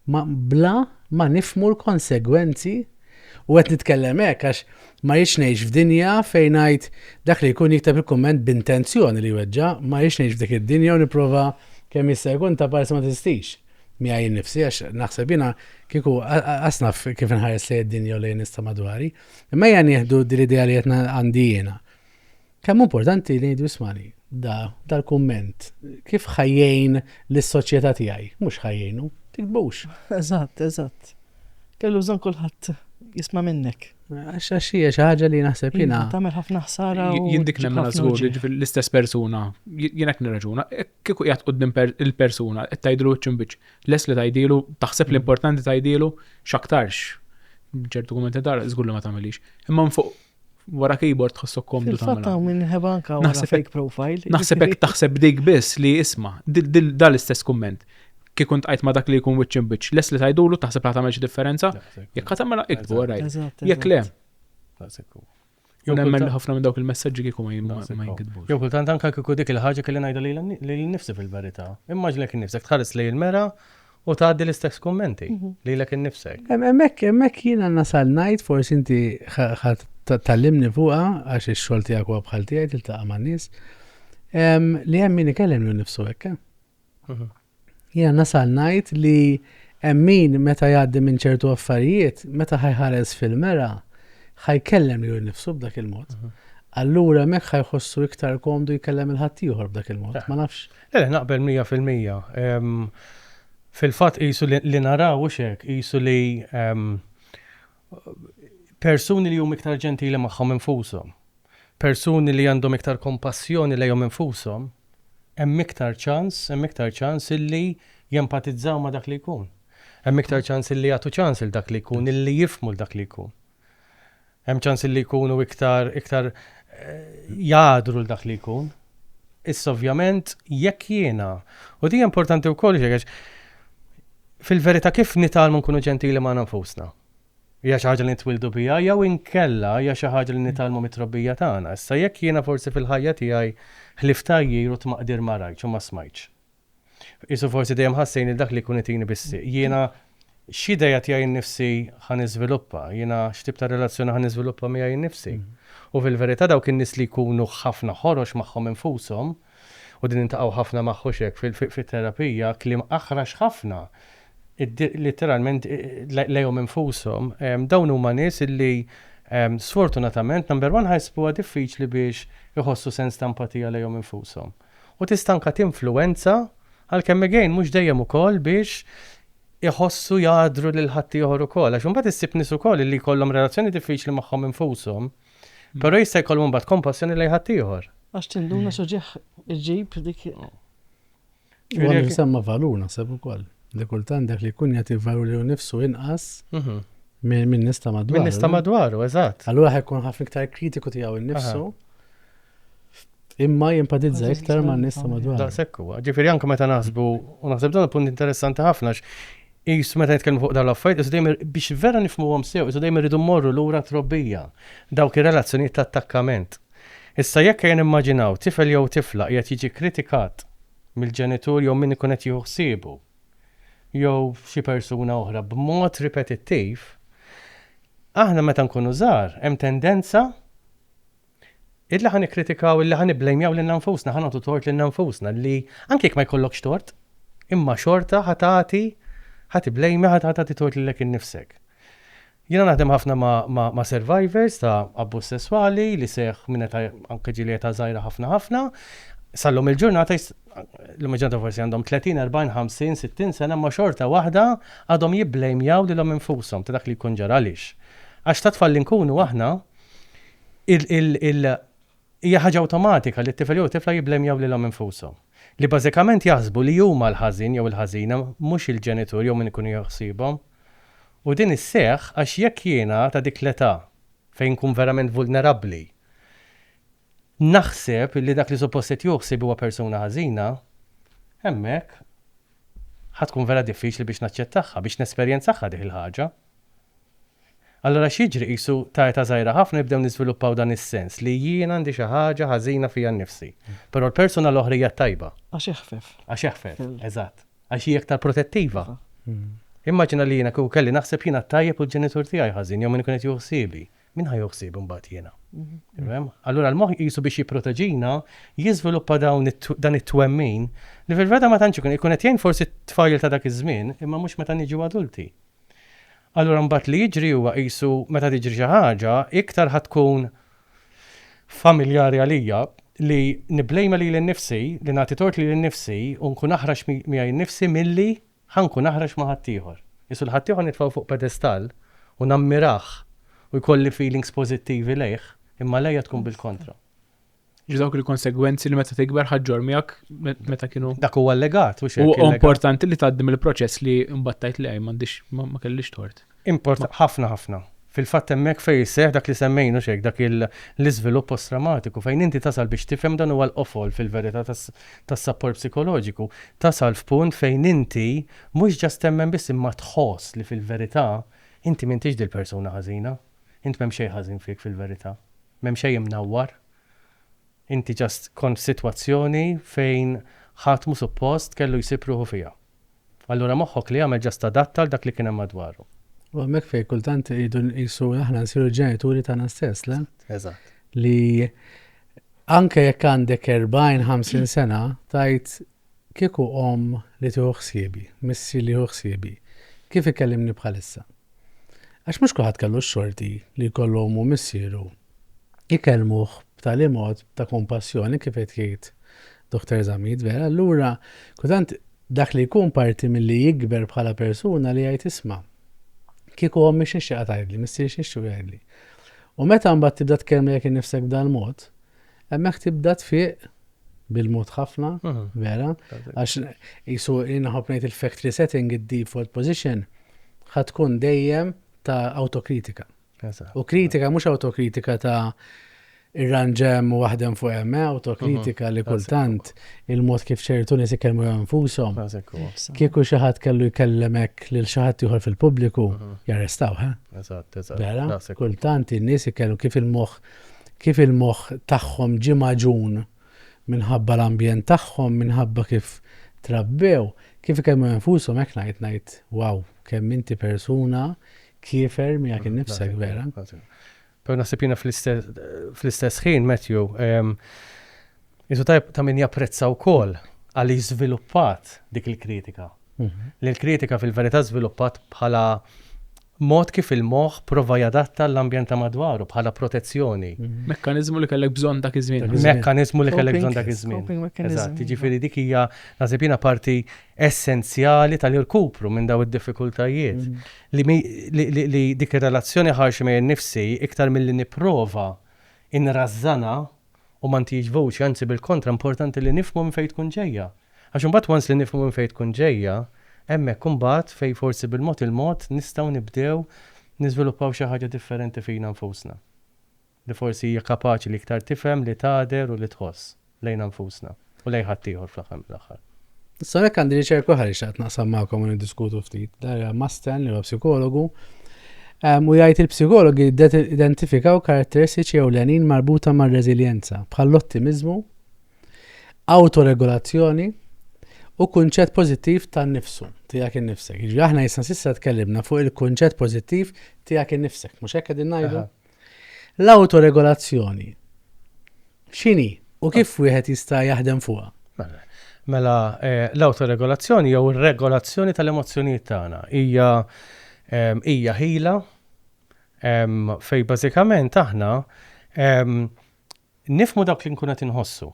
ma bla ma nifhmu l-konsegwenzi u qed nitkellem hekk għax ma rridx ngħix f'dinja fejn ngħid dak li jkun jikteb il-kumment b'intenzjoni li jweġġa', ma rridx ngħix f'dik id-dinja u nipprova kemm jista' jkun ta' parsi ma teżistix. miegħi nnifsi għax naħseb jiena kieku qas naf kif inħares lejn id-dinja u lejn nista' madwari, imma hija nieħdu din l-idea li qed għandi jiena. Kemm importanti li ngħidu ismani, da dal-kumment, kif ħajjejn lis-soċjetà tiegħi, mhux ħajjejnu, tiktbux. Eżatt, eżatt. Kellu bżonn kulħadd jisma' minnek. Għax għax hija xi ħaġa li naħseb jiena. Tagħmel ħafna ħsara. Jindik nemmen żgur l-istess persuna, jiena qed nirraġuna, Kieku qiegħed quddiem il-persuna, qed tgħidlu wiċċ imbiċċ, lest li tgħidilu, taħseb li importanti tgħidilu, x'aktarx ċertu kummenti tagħha żgur li ma tagħmilhiex. Imma minn fuq wara keyboard tħossok komdu tagħmel. Fatta minn ħeba anka wara fake profile. Naħseb hekk taħseb dik biss li isma' dal l-istess kumment. Kif kont qajt ma dak li jkun wiċċ imbiċ, les li tajdulu taħseb la tagħmel xi differenza, jekk tagħmel iktbu rajt. Jekk le. Jew nemmen kultant- li ħafna minn dawk il-messaġġi kieku ma jim- ma Daqshekk, oh. jinkitbux. Jew kultant anke kieku dik il-ħaġa kelli ngħidha lili nni- lili nnifsi fil-verità. Immaġina lilek innifsek tħares lejn il-mera u tgħaddi l-istess kummenti lilek innifsek. Hemm- Hemmhekk hemmhekk jiena nasal ngħid forsi inti ħa- ħa ta- tgħallimni fuqha għax ix-xogħol tiegħek huwa bħal tiegħi tiltaqa' man-nies, ehm, li hemm min ikellem lilu nnifsu hekk, eh? Jiena nasal ngħid li hemm min meta jgħaddi minn ċertu affarijiet, meta ħajħares fil-mera, ħajkellem lilu nnifsu b'dak il-mod. Mhm. Allura hemmhekk ħajħossu iktar komdu jkellem il-ħaddieħor b'dak il-mod, ma nafx. Le, naqbel 100%. Fil-fatt qisu li naraw hux hekk, qisu li persuni li huma iktar ġentili magħhom infushom, persuni li għandhom iktar kompassjoni lejhom infushom, hemm iktar ċans, hemm iktar ċans illi jempatizzaw ma' dak li jkun. Hemm iktar ċans illi jagħtu ċans lil dak li jkun, illi jifhmu lil dak li jkun. Hemm ċans illi jkunu iktar, iktar jagħdru lil dak li jkun. Issa ovvjament jekk jiena, u di importanti wkoll xi Fil-verità, kif nitgħallmu nkunu ġentili magħna nfusna? Hija xi ħaġa li nitwieldu biha jew inkella hija xi ħaġa li nitgħallmu mit-trobbija tagħna? Issa, jekk jiena forsi fil-ħajja tiegħi ħlief tgħajjir u tmaqdir ma rajtx u ma smajtx. Qisu forsi dejjem ħassejn li dak li jkun itini bis-sieq. Jiena x'idea tiegħi nnifsi ħa niżviluppa? Jiena x'tip ta' relazzjoni ħa niżviluppa miegħi nnifsi? U fil-verità dawk in-nies li jkunu ħafna ħorox magħhom infushom, U din intaqgħu ħafna magħhux hekk fit-terapija, kliem aħrax ħafna, litteralment lejhom infushom. Dawn huma nies li sfortunatament, number one, ħajsbuha diffiċli biex iħossu sens ta' empatija lejhom infushom. U tista' anke tinfluwenza, għalkemm again mhux dejjem ukoll, biex iħossu jgħaddru lil ħaddieħor ukoll. Għax imbagħad issib nies ukoll li jkollhom relazzjoni diffiċli magħhom infushom. Però jista' jkollhom imbagħad kompassjoni lejn ħaddieħor. Għax tinduna x'oġieħ iġġib dik. Huwa jinsemma valur naħseb ukoll. Li kultant dak li jkun jagħti valur li nifsu inqas mhm. minn nista madwaru. Minn nista madwaru, eżatt. Allura ħekun ħafna iktar kritiku tiegħu nnifsu. Imma jenpatizza iktar ma' nista madwar. Dan sekku, ġifiri anka meta naħsbu, u naħseb dan punt interessanti ħafna, jis meta nitkellmu fuq dan l-affajt, jis dejjem biex vera nifmu għom sew, jis dejjem rridu morru l-ura trobbija, dawk il-relazzjoniet ta' attakkament. Issa jekk jen immaġinaw tifel jew tifla jgħet jiġi kritikat mill-ġenitur jew minn ikun qed jieħu ħsiebu, jew xi persuna oħra b'mod ripetittiv, aħna meta nkunu żgħar hemm tendenza Illi ħa nikkritikaw, illi ħa nibblejmjaw lilna nfusna, ħa nagħtu tort lilna nfusna li anke jekk ma jkollokx tort, imma xorta ħa tagħti ħa tibblejmja ħa tagħti tort lilek innifsek. Jiena naħdem ħafna ma' survivors ta' abbuż sesswali li seħħ minn eta' anke ġieli eta' żgħira ħafna ħafna. Sallum il-ġurnata l-lum il-ġurnata forsi għandhom 30, 40, 50, 60 sena ma' xorta waħda għadhom jibblejmjaw lilhom infushom ta' dak li jkun ġara għaliex. Għax ta' tfal li nkunu aħna Hija ħaġa awtomatika li t-tifel jew tifla jibblemjaw lilhom infushom. Li bażikament jaħsbu li huma l-ħażin jew il-ħażina, mhux il-ġenitur jew min ikun jieħu ħsiebhom. U din isseħħ għax jekk jiena ta' dik l-età fejn nkun verament vulnerabbli naħseb li dak li suppost qed jieħu ħsieb huwa persuna ħażina, hemmhekk ħa tkun vera diffiċli biex naċċettahha, biex nesperjenzahha dik il-ħaġa. Allura x'jiġri? Qisu ta' età żgħira ħafna jibdew niżviluppaw dan is-sens li jien għandi xi ħaġa ħażina fija nnifsi, però l-persuna l-oħra hija t-tajba. Għax eħfef. Għax eħfef, eżatt. Għax hi aktar protettiva. Immaġina li jiena kieku kelli naħseb jiena t-tajjeb u l-ġenitur tiegħi ħażin jew min ikun qed jieħu ħsiebi. Min ħa jieħu ħsiebi mbagħad jiena? Tifhem? Allura l-moħħ qisu biex jipproteġina jiżviluppa dawn dan it-twemmin li fil-veta ma tantx ikun ikun qed jgħin forsi t-tfajjel ta' dak iż-żmien imma mhux meta niġu adulti. Allura mbagħad li jiġri huwa qisu meta tiġri xi ħaġa iktar ħa tkun familjari għalija li nibblejma lili nnifsi, li nagħti tort lili nnifsi u nkun aħrax miegħi nnifsi milli ħa nkun aħrax ma' ħaddieħor. Qisu l-ħaddieħor nitfgħu fuq pedestall u nammirah u jkolli feelings pożittivi lejh, imma għalija tkun bil-kontra. Ġidawk il-konsegwenzi li meta tikber ħadġor miegħek meta kienu. Dak huwa allegat u xejn. Huwa importanti li tgħaddi mill-proċess li mbattajt li għaj m'għandix ma kellix tort. Import ħafna ħafna. Fil-fatt hemmhekk fejn isseħħ dak li semmejn u xejn dak l-iżvilupp post-trawmatiku fejn inti tasal biex tifhem dan huwa l-qofol fil-verità tas-sapport psikoloġiku. Tasal f'punt fejn inti mhux ġast temmen biss imma tħoss li fil-verità inti m'intix dil-persuna ħażina. Int m'hemm xejn ħażin fik fil-verità. M'hemm xejn imnawwar. Inti just kont f'sitwazzjoni fejn ħadd mhu suppost kellu jsib ruħu fiha. Allura moħħok li għamel just adatta għal dak li kien hemm madwaru. U hemmhekk fejn kultant irridu nqisu aħna nsiru l-ġenituri tagħna stess, le? Eżatt. Li anke jekk għandek 40, 50 sena, tgħid Kieku omm li tieħu ħsiebi, missier li jieħu ħsiebi, kif ikellimni bħalissa? Għax mhux kulħadd kellu x-xorti li jkollu ommu u missieru jkellmuh b'tali mod ta' kumpassjoni kif qed jgħid Dottor Zammit, vera, allura kultant dak li jkun parti milli jikber bħala persuna li jgħid isma', kieku ommi xi xtieqa tgħidli, missieri xi xtiequ jgħidli. U meta mbagħad tibda tkellmlek innifsek b'dal-mod, hemmhekk tibda tfieq bil-mod ħafna, vera, għax jisu inħob ngħid il-factory setting, id-default position, ħatkun dejjem ta' autokritika. U kritika mhux autokritika ta' irranġem u waħdem fuq hemm, eh, autokritika li kultant il-mod kif ċertu nies ikellmu nfushom. Kieku xi ħadd kellu jkellemek lil xi ħadd ieħor fil-pubbliku jarrestaw, ha? Eh? Eżatt, eżatt. Kultant in-nies ikellmu kif il-moħħ kif il-moħħ tagħhom ġie magħġun minħabba l-ambjent tagħhom, minħabba kif trabbew, kif ikellmu infushom hekk ngħid ngħid wow kemm inti persuna kiefer miegħek innifsek vera. Però naħseb jiena fl-istess ħin Matthew jisu tajb ta' min japprezza wkoll għal jiżviluppat dik il-kritika. Mhm. Li l-kritika fil-verità żviluppat bħala Mod kif il-moħħ prova jadatta għall-ambjent ta' madwaru bħala protezzjoni. Mekkaniżmu li kellek bżonn dak iż-żmien. Mekkaniżmu li kellek bżonn dak iż-żmien. Eżatt, jiġifieri dik hija, naħseb jiena, parti essenzjali tal-irkupru minn dawn id-diffikultajiet. Li dik ir-relazzjoni ħarxa miegħi nnifsi, iktar milli nipprova nrażżanha, u ma ntihiex vuċi, anzi bil-kontra importanti li nifhmu minn fejn tkun ġejja. Għax imbagħad once li nifhmu minn fejn tkun ġejja, hemmhekk imbagħad fejn forsi bil-mod il-mod nistgħu nibdew niżviluppaw xi ħaġa differenti fina nfusna. Li forsi hija kapaċi li iktar tifhem li tagħder u li tħoss lejna nfusna. u lejn ħaddieħor fl-aħħar mill-aħħar. Issa hekk għandi riċerka oħra li xaqt naqsam magħkom u niddiskutu ftit. Darja Masten li huwa psikologu. U jgħid il-psikologi identifikaw karatteristiċi ewlenin marbuta mar-reżiljenza bħall-ottimiżmu, autoregolazzjoni u kunċett pożittiv tan-nifsu tiegħek innifsek. Jiġri aħna jisna sissa tkellimna fuq il-kunċett pożittiv tiegħek innifsek, mhux hekk qegħdin ngħidu? L-awtoregolazzjoni x'inhi u kif wieħed jista' jaħdem fuqha? Mela, mela eh, l-awtoregolazzjoni jew ir-regolazzjoni tal-emozzjonijiet tagħna hija ehm, hija ħila ehm, fej bażikament aħna ehm, nifmu dawk li nkun qed inħossu.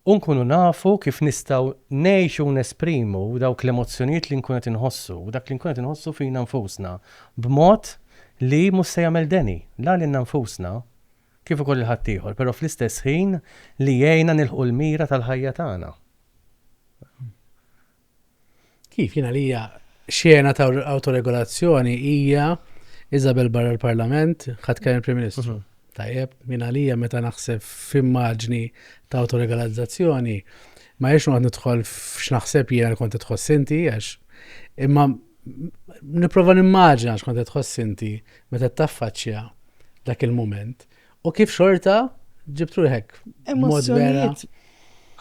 U nkunu nafu kif nistgħu ngħixu u nesprimu dawk l-emozzjonijiet li nkunu qed inħossu u dak li nkunu qed inħossu fina nfusna b'mod li mhux se jagħmel deni la lilna nfusna kif ukoll lil ħaddieħor, però fl-istess ħin li jgħinna nilħqu l-mira tal-ħajja tagħna. Kif jien għalija xena ta' autoregolazzjoni hija Isabel barra l-Parlament ħadd kemm il-Prim Ministru. Mhm. Tajjeb, minn għalija meta naħseb f'immaġni ta' autoregolazzjoni, ma jiex noqgħod nidħol f'x'naħseb jiena li kont tħoss inti għax imma nipprova nimmaġina x'kont tħoss inti meta taffaċċja dak il-mument U kif xorta ġibt ruħek? Emozzjonijiet.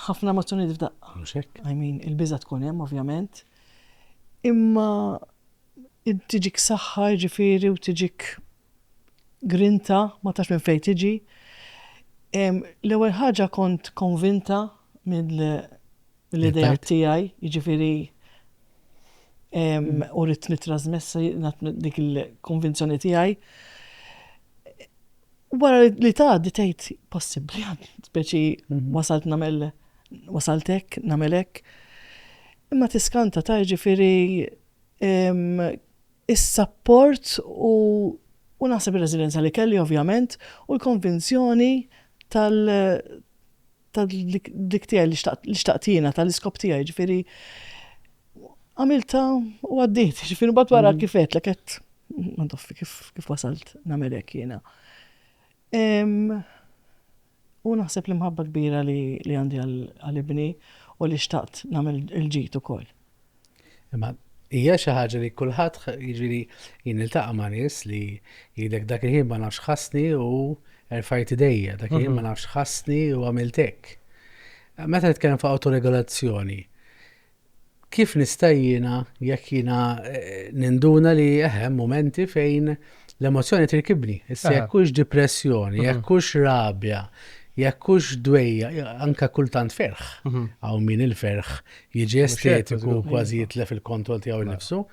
Ħafna emozzjonijiet f'daqqa. Mhux hekk. I mean, il-biża tkun hemm ovvjament. Imma tiġik saħħa ġifieri u tiġik grinta ma tax minn fejn tiġi. L-ewwel ħaġa kont konvinta mill L-idea tiegħi, jiġifieri u rrid nittrażmessa dik il-konvinzjoni tiegħi. Wara li tgħaddi tgħid possibbli speċi mhm. wasalt nagħmel wasaltek nagħmelek. Imma tiskanta ta' jiġifieri is-sapport u u naħseb ir-reżiljenza li kelli ovvjament u l-konvinzjoni tal ta' dik tiegħi li xtaqt li xtaqt jiena tal-iskop tiegħi, ġifieri għamilta u għaddiet, ġifieri mbagħad wara kif qed lek qed ma toffi kif kif wasalt nagħmel hekk jiena. U naħseb l-imħabba kbira li għandi għal ibni u li xtaqt nagħmel il-ġid ukoll. Imma hija xi ħaġa li kulħadd jiġifieri jien niltaqa' ma' nies li jgħidlek dak il-ħin ma nafx ħassni u erfajt idejja, dak il-ħin ma mhm. nafx ħassni u għamilt hekk. Meta nitkellem fuq autoregolazzjoni, kif nista' jiena jekk jiena eh, ninduna li eħem eh, momenti fejn l-emozjoni tirkibni. Issa jekk hux depressjoni, mhm. jekk hux rabja, jekk hux dwejja, anka kultant ferħ. Mhm. Hawn min il-ferħ jiġi estetiku kważi jitlef il-kontroll tiegħu mela. nnifsu.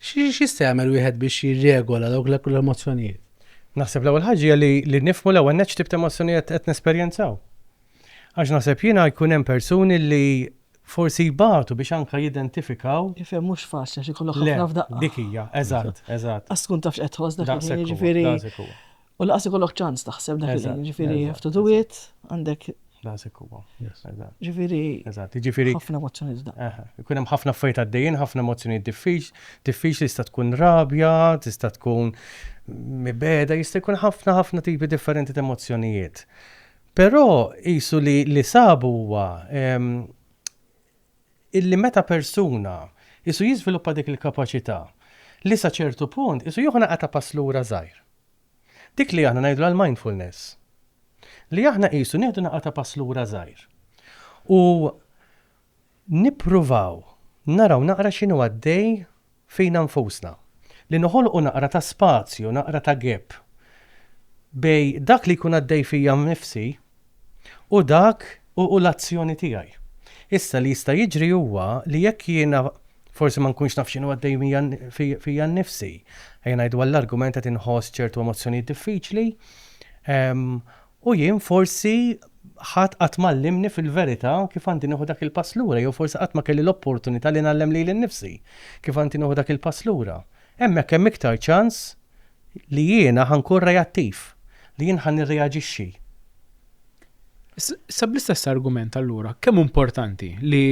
X'jista' jagħmel wieħed biex jirregola dawk l-emozzjonijiet? Naħseb l-ewwel ħaġa li li nifmu l-ewwel neċ tip ta' emozzjonijiet qed nesperjenzaw. Għax naħseb jiena jkun hemm persuni li forsi jbatu biex anka jidentifikaw. Ifhem mhux faċli xi kollok ħafna f'daqqa. Dik hija, eżatt, eżatt. Għas tkun tafx qed tħoss dak jiġifieri. U laqas ikollok ċans taħseb dak il-ħin, ġifiri, have to do it, għandek. Daqsek huwa. Ġifiri. Eżatt, ġifiri. ħafna emozzjoni da. Ikun hemm ħafna affarijiet għaddejjin, ħafna emozzjoni diffiċ, diffiċ li tista' tkun rabja, tista' tkun mibeda, jista' jkun ħafna ħafna tipi differenti ta' emozzjonijiet. Però jisu li li sabu huwa illi meta persuna qisu jiżviluppa dik il-kapaċità, li sa ċertu punt qisu jieħu naqra ta' pass lura żgħir. Dik li aħna ngħidulha l-mindfulness. Li aħna qisu nieħdu naqra ta' pass lura żgħir. U nippruvaw naraw naqra x'inhu għaddej fina nfusna. Li noħolqu naqra ta' spazju, naqra ta' gap bejn dak li jkun għaddej fija nnifsi u dak u l-azzjoni tiegħi. Issa li jista' jiġri huwa li jekk jiena forsi ma nkunx naf x'inhu għaddej fija nnifsi, ejja ngħidu għall-argument qed inħoss ċertu emozzjonijiet diffiċli, U jien forsi ħadd qatt m'għallimni fil-verità kif għandi nieħu dak il-pass lura jew forsi qatt ma kelli l-opportunità li ngħallem lili nnifsi kif għandi nieħu dak il-pass lura. Hemmhekk hemm iktar ċans li jiena ħa nkun reattiv, li jien ħa nirreaġixxi. Issa bl-istess argument allura, kemm hu importanti li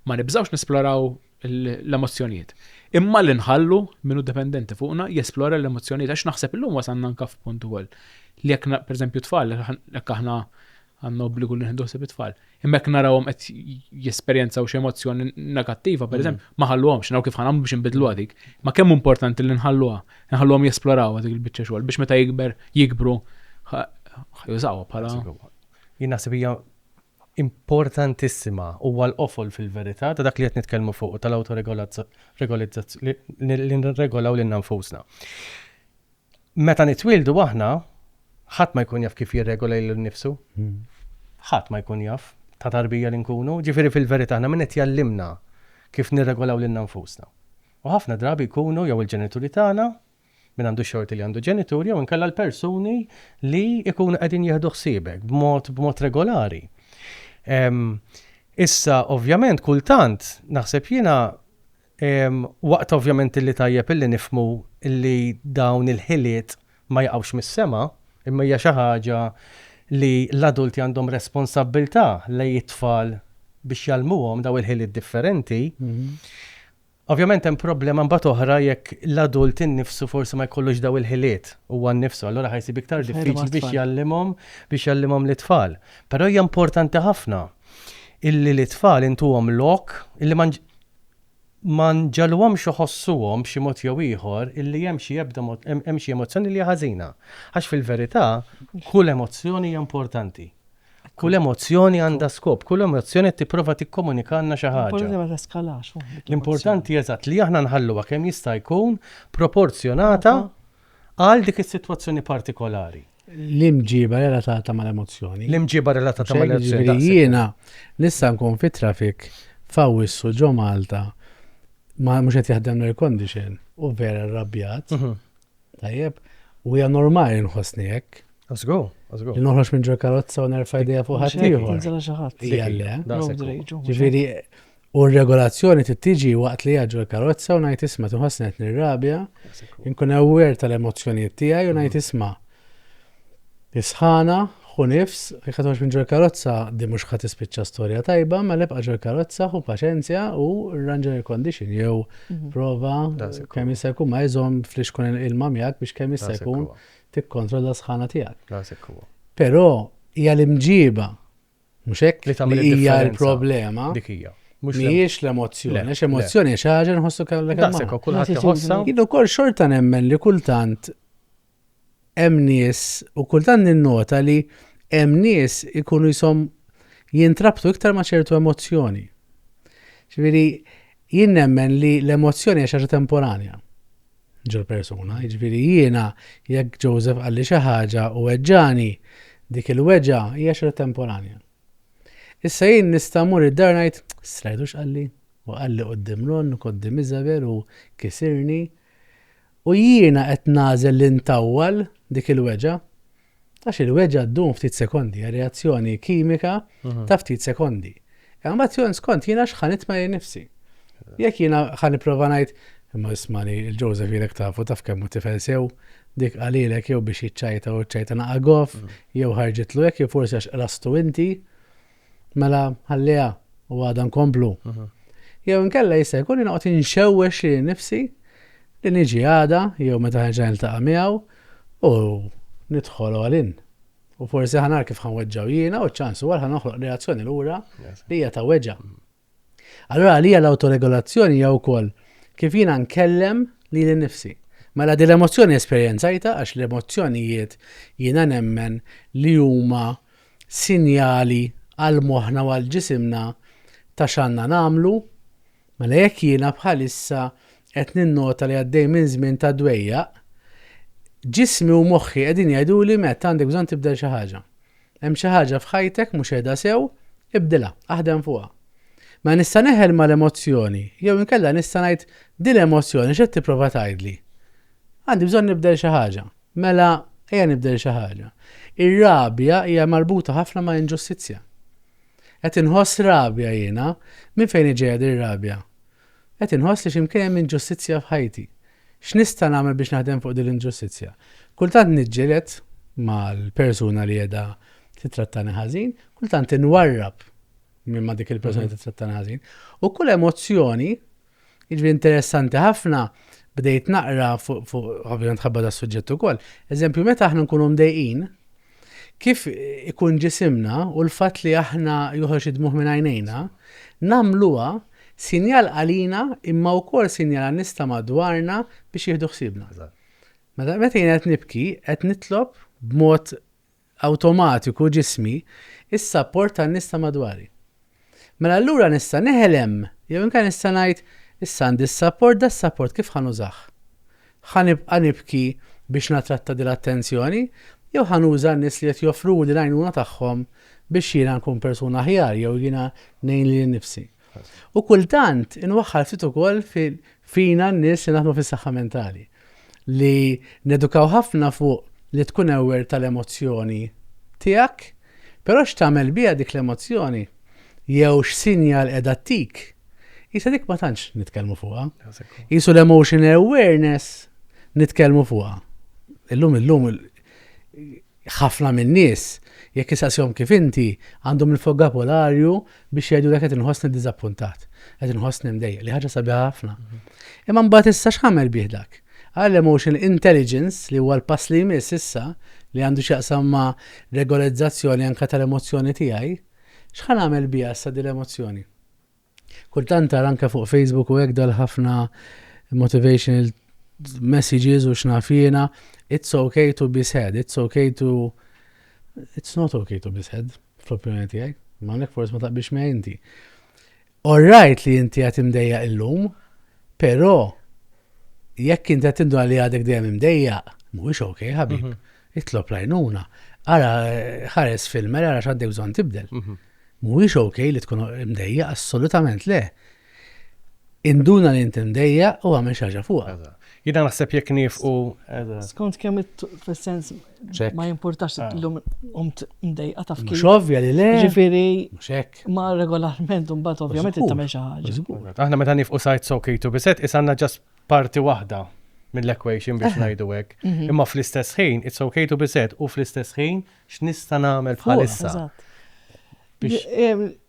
ma nibżgħux nesploraw l-emozzjonijiet. Imma li nħallu min hu dipendenti fuqna jesplora l-emozzjonijiet għax naħseb illum wasalna anke f'punt ukoll li jekk pereżempju tfal jekk aħna għandna obbligu li nieħdu ħsieb it-tfal. Imma jekk narawhom qed jesperjenzaw xi emozzjoni negattiva, pereżempju, mm. ma ħalluhomx, naraw kif ħanam biex inbidlu għadik. Ma kemm importanti li nħalluha, nħalluhom jesploraw dik il-biċċa xogħol biex meta jikber jikbru ħajużawha bħala. Jien naħseb hija importantissima, huwa l-qofol fil-verità ta' dak li qed nitkellmu fuqu, tal-awtoregolizzazzjoni, li nirregolaw lilna nfusna. Meta nitwieldu aħna, ħadd ma jkun jaf kif jirregola lilu nnifsu. Ħadd ma jkun jaf ta' tarbija li nkunu, ġifieri fil-verità aħna min qed jgħallimna kif nirregolaw lilna nfusna? U ħafna drabi jkunu jew il-ġenituri tagħna Min għandu x-xorti li għandu ġenituri jew inkella l-persuni li jkunu qegħdin jieħdu ħsiebek b'mod b'mod regolari. Issa ovvjament kultant naħseb jiena waqt ovvjament li tajjeb illi nifhmu li dawn il-ħiliet ma jaqgħux mis-sema, imma hija xi ħaġa li l-adulti għandhom responsabbiltà lejn it-tfal biex jgħallmuhom dawn il-ħiliet differenti. Ovvjament hemm problema mbagħad oħra jekk l-adult innifsu forsi ma jkollux dawn il-ħiliet huwa nnifsu, allura ħa jsib iktar diffiċli biex jgħallimhom biex jgħallimhom lit-tfal. Però hija importanti ħafna illi lit-tfal intuhom lok illi ma ma nġagħluhomx iħossuhom b'xi mod jew ieħor illi hemm xi ebda hemm xi emozzjoni li hija ħażina. Għax fil-verità kull emozzjoni hija importanti. Kull emozzjoni għandha skop, kull emozzjoni qed tipprova tikkomunikalna xi ħaġa. Importanti ma teskalax. L-importanti eżatt li aħna nħalluha kemm jista' jkun proporzjonata għal dik is-sitwazzjoni partikolari. L-imġiba relatata mal-emozzjoni. L-imġiba relatata mal-emozzjoni. Jiena nista' nkun fit trafik f'Awwissu ġo Malta ma mhux qed jaħdem l-air condition u vera rrabjat. Mhm. Tajjeb, u hija normali li nħossni hekk. Żgur, żgur. Li noħroġ minn ġol karozza u nerfa' idea fuq ħadd ieħor. Tinżela xi ħadd. Hija le. Ġifieri, u r-regolazzjoni tittiġi waqt li ġol karozza u ngħid isma' tinħossni qed nirrabja, inkun aware tal-emozzjonijiet tiegħi u ngħid isma' Is-sħana, Ħu nifs, jekk ħa toħroġ minn ġol-karozza, din mhux ħa tispiċċa storja tajba, mela ibqa' ġol-karozza, ħu paċenzja u rranġa l-air-condition jew prova kemm jista' jkun ma iżomm flixkun il-ilma miegħek biex kemm jista' jkun tikkontrolla s-sħana tiegħek. Però hija l-imġieba, mhux hekk, li hija l-problema. Dik hija. Mhijiex l-emozzjoni, għax emozzjoni hija xi ħaġa nħossu kemm l-ekk. Daqshekk, kulħadd iħossha. Jien ukoll xorta nemmen li kultant hemm nies u kultant ninnota li hemm nies ikunu jisom jintrabtu iktar ma' ċertu emozzjoni. Ġifieri jien nemmen li l-emozzjoni hija xi temporanja ġol persuna, ġifieri jiena jekk Joseph qalli xi ħaġa u weġġani, dik il-weġa hija xi temporanja. Issa jien nista' mur id-dar ngħid, strajdu x'qalli? U qalli qudiem Ron, qudiem Isabel u kisirni. U jiena qed nagħżel li ntawwal dik il-weġgħa. Għax il-weġgħa ddum ftit sekondi, hija reazzjoni kimika ta' ftit sekondi. Imma mbagħad jien skont jiena x'ħa nitma' lejn nifsi. Jekk jiena ħa nipprova ngħid, imma isma' li l-Joseph ilek tafu taf kemm hu tifel sew, dik qalilek jew biex jiċċajta u ċċajta naqa' goff, jew ħarġitlu hekk jew forsi għax qrastu inti. Mela ħalliha u għada nkomplu. Jew inkella jista' jkun inqgħod inxewwex li nifsi li niġi għada jew meta ħerġa niltaqa' miegħu u nidħol għalin. U forsi ħanar kif ħanweġġaw jiena u ċ-ċans huwa ħanoħloq reazzjoni lura li hija ta' weġa'. Allura għalija l-awtoregolazzjoni hija wkoll kif jiena nkellem lili nnifsi. Mela din l-emozzjoni esperjenzajtha għax l-emozzjonijiet jiena nemmen li huma sinjali għal moħħna u għal ġisimna ta' x'għandna nagħmlu, mela jekk jiena bħalissa qed ninnota li għaddej minn żmien ta' dwejjaq, ġismi u moħħi qegħdin jgħiduli Matt għandek bżonn tibdel xi ħaġa. Hemm xi ħaġa f'ħajtek mhux qiegħda sew? Ibdilha, aħdem fuqha. Mela nista' neħel mal-emozzjoni, jew inkella nista' ngħid, 'Din l-emozzjoni x'qed tipprova tgħidli? Għandi bżonn nibdel xi ħaġa. Mela ejja nibdel xi ħaġa. Ir-rabja hija marbuta ħafna ma' inġustizzja. Qed inħoss rabja jiena, minn fejn hi ġejja din ir-rabja? Qed inħoss li xi mkien hemm inġustizzja f'ħajti. X'nista' nagħmel biex naħdem fuq din l-inġustizzja? Kultant niġġieled mal-persuna li qiegħda tittrattani ħażin, kultant inwarrab minn ma' dik il-persuna li tittrattani ħażin, u kull emozzjoni, jiġifieri interessanti ħafna, bdejt naqra fuq, ovvjament ħabba das-suġġett ukoll, eżempju meta aħna nkunu mdejqin, kif ikun ġisimna u l-fatt li aħna joħroġ id-dmugħ minn għajnejna, nagħmluha sinjal għalina imma wkoll sinjal għan-nies ta' madwarna biex jieħdu ħsiebna. Meta meta jiena qed nibki, qed nitlob b'mod awtomatiku ġismi s-sapport tan-nies ta' madwari. Mela allura nista' neħelem jew inkella nista' ngħid, issa għandi s-sapport, da s-sapport kif ħa nużah? Ħa nibqa' nibki biex nattratta din l-attenzjoni jew ħa nuża n-nies li qed joffruli l-għajnuna tagħhom biex jiena nkun persuna aħjar jew jiena ngħin lili nnifsi? U kultant inwaħħal ftit ukoll fina n-nies li naħdmu fis-saħħa mentali. li nedukaw ħafna fuq li tkun aware tal-emozzjoni tiegħek, però x'tagħmel biha dik l-emozzjoni jew x'sinjal qiegħda ttik, qisha dik ma tantx nitkellmu fuqha. Qisu l-emotion awareness nitkellmu fuqha. Illum illum Ħafna min-nies, jekk issaqsihom kif inti, għandhom il-fokabolarju biex jgħidulek qed inħossni ddiżappuntat, qed inħossni mdejjaq, li ħaġa sabiħa ħafna. Imma mbagħad issa x'ħamel bih dak? Għal emotional intelligence, li huwa l-pass li jmiss issa, li għandu x'jaqsam ma' regolarizzazzjoni anke tal-emozzjoni tiegħi, x'ħa nagħmel biha issa din l-emozzjoni? Kultant ara anke fuq Facebook u hekk dal-ħafna motivational messages u x'naf jiena, it's okay to be sad, it's okay to it's not okay to be sad, fl-opinjoni tiegħi. Ma hawnhekk forsi ma taqbix miegħi inti. Orrajt li inti qed imdejjaq illum, però jekk inti qed tindu li għadek dejjem imdejjaq, mhuwiex ok, ħabib. Mhm. Itlob lajnuna. Ara ħares filmer, ara x'għaddek bżonn tibdel. Mhm. Mhuwiex ok li tkun imdejjaq, assolutament le. Induna li int imdejjaq u agħmel xi ħaġa fuqha. Jiena naħseb jekk niefqu. Skont kemm fis-sens ma jimpurtax illum qomt imdejqa taf kif. Mhux ovvja li le. Ġifieri. Mhux hekk. Ma regolarment imbagħad ovvjament qed tagħmel xi ħaġa. Aħna meta niefqu sa it's ok to be sad is għandna ġast parti waħda mill-equation biex ngħidu hekk. Imma fl-istess ħin it's ok to be sad u fl-istess ħin X'nista' nagħmel bħalissa?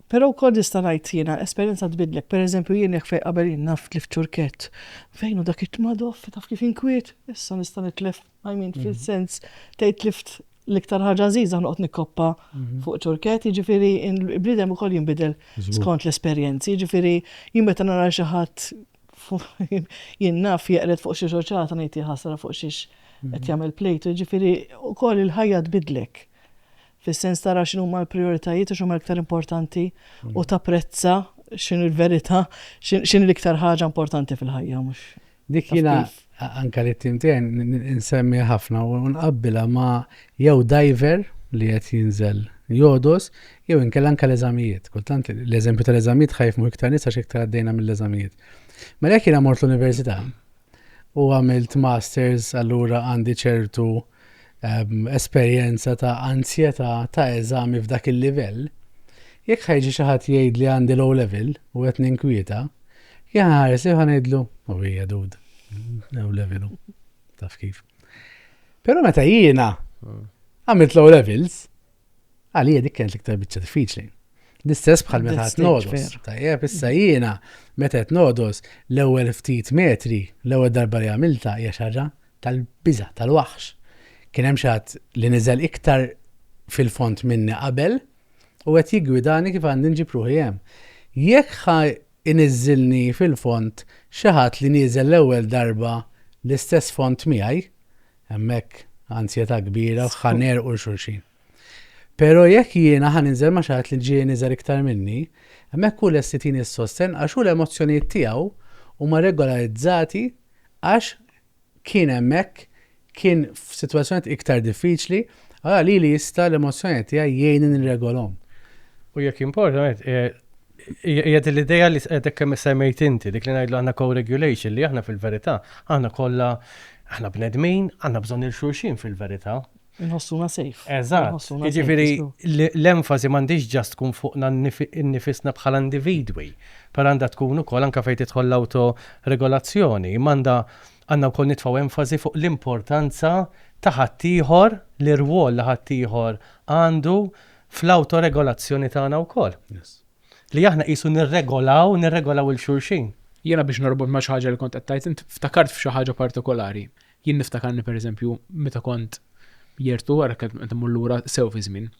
Però wkoll nista' ngħid jiena esperjenza tbiddlek. Pereżempju jien jekk fejn qabel jien naf tlift ċurkett. Fejn hu dak it-tmadoff taf kif inkwiet? Issa nista' nitlef I mean fil-sens tgħid tlift l-iktar ħaġa għażiża noqgħod nikkoppa fuq ċurkett, jiġifieri l-bniedem ukoll jinbidel skont l-esperjenzi. Jiġifieri jien meta nara xi ħadd Jien naf jeqred fuq xi xoċata ngħid jaħasra fuq xiex qed jagħmel plejtu, jiġifieri wkoll il-ħajja tbiddlek. Fis-sens tara x'inhuma l-prijoritajiet u x'inhuma l-iktar importanti u tapprezza x'inhi l-verità, x'inhi l-iktar ħaġa importanti fil-ħajja mhux. Dik jiena anke li t-tim tiegħi insemmih ħafna u nqabbilha ma' jew diver li qed jinżel jogħdos jew inkella anke l-eżamijiet. Kultant l-eżempju tal-eżamijiet ħajfmu iktar nies għax iktar għaddejna mill-eżamijiet. Mela jekk jiena mort l-università u għamilt masters allura għandi ċertu uh, esperjenza ta' anzjetà ta' eżami f'dak il-livell, jekk ħa jiġi xi ħadd jgħid li għandi low level u qed ninkwieta, jien ħa nħares lejh u ħa ngħidlu, u hija dud, low level hu, taf kif. Però meta jiena għamilt low levels, Għalija dik kienet l-iktar biċċa diffiċli. L-istess bħal meta qed nodos. Tajjeb, issa jiena meta qed nodos l-ewwel ftit metri, l-ewwel darba li għamilta hija xarra tal-biża tal-waħx. Kien hemm xatt li niżel iktar fil-font minni qabel u qed jiggwidani kif għandi nġib ruħi hemm. Jekk ħa iniżilni fil-font xi ħadd li nieżel l-ewwel darba l-istess font miegħi, Hemmhekk anzjetà kbira ħa nerqu l xulxin. Pero jekk jiena ħa ninżel ma' xi ħadd li ġieli niżel iktar minni, hemmhekk hu lest itini s-sostenn għax hu l-emozzjonijiet tiegħu huma regolarizzati għax kien hemmhekk, kien f'sitwazzjonijiet iktar diffiċli, allura lili jista' l-emozzjonijiet tiegħi jgħinni nirregolhom. U jekk importa, Hija din l-idea li hekk kemm issemmejt inti, dik li ngħidlu aħna co-regulation, li aħna fil-verità, aħna kollha, aħna bnedmin, għandna bżonn lil xulxin fil-verità. Inħossuna safe. Eżatt. Jiġifieri l-enfasi m'għandhiex ġast tkun fuqna nnifisna bħala individwi, però għandha tkun ukoll anke fejn tidħol l-awtoregolazzjoni, imma għandha għandna wkoll nitfgħu enfasi fuq l-importanza ta' ħaddieħor, l-irwol li ħaddieħor għandu fl-awtoregolazzjoni tagħna wkoll. Li aħna qisu nirregolaw, nirregolaw il xulxin. Jiena biex norbot ma' xi ħaġa li kont qed tgħid int, ftakart f'xi ħaġa partikolari. Jien niftakarni pereżempju meta kont jertu wara qed immur lura sew fiż-żmien.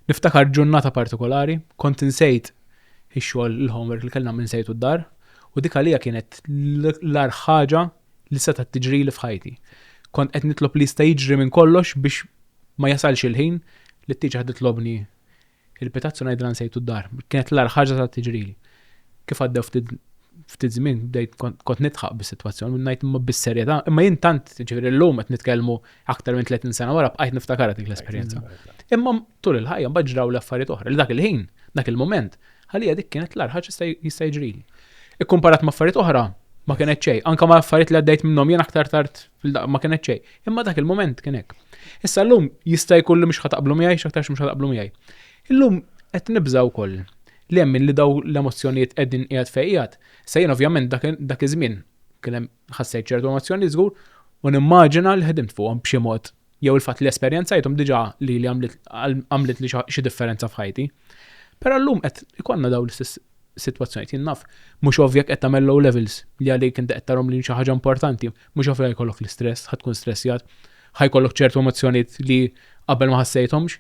Niftakar ġurnata partikolari, kont insejt ix-xogħol il-homework li kellna nagħmel insejtu d-dar u dik għalija kienet l-agħar ħaġa li setgħet tiġrili f'ħajti. Kont qed nitlob li jista' jiġri minn kollox biex ma jasalx il-ħin li t-tieġaħ titlobni il-pitazz u ngħidilha nsejtu d-dar. Kienet l-agħar ħaġa setgħet tiġrili. Kif għaddew ftit ftit żmien bdejt kont nidħaq bis-sitwazzjoni u ngħid imma bis-serjetà, imma jien tant ġifieri llum qed nitkellmu aktar minn 30 sena wara bqajt niftakarha dik l-esperjenza. Imma tul il-ħajja mbagħad ġraw l-affarijiet oħra li dak il-ħin, dak il-mument, Għalija dik kienet l-ar ħaġa jista' jiġrili. Ikkumparat ma' affarijiet oħra, ma kienet xej. Anka ma' affarijiet li għaddejt minnhom jien aktar tard ma kienet xej. Imma dak il-moment kien hekk. Issa llum jista' jkun li mhux ħataqblu miegħi, x'aktarx mhux ħataqblu miegħi. Illum qed nibża' wkoll li hemm li daw l-emozzjonijiet qegħdin qiegħed fejn qiegħed. Issa jien ovvjament dak iż-żmien kien hemm ħassejt ċertu emozzjonijiet żgur u nimmaġina li ħdimt fuqhom b'xi mod jew il-fatt li esperjenzajthom diġà lili għamlitli xi differenza f'ħajti. Però llum qed ikollna dawn l-istess sitwazzjonijiet. Jien naf, mhux ovvja qed tagħmel low levels li għalik inti qed tarhom li xi ħaġa importanti, mhux ovvja jkollok l-istress, ħa tkun stressjat, ħa jkollok ċertu emozzjonijiet li qabel ma ħassejthomx.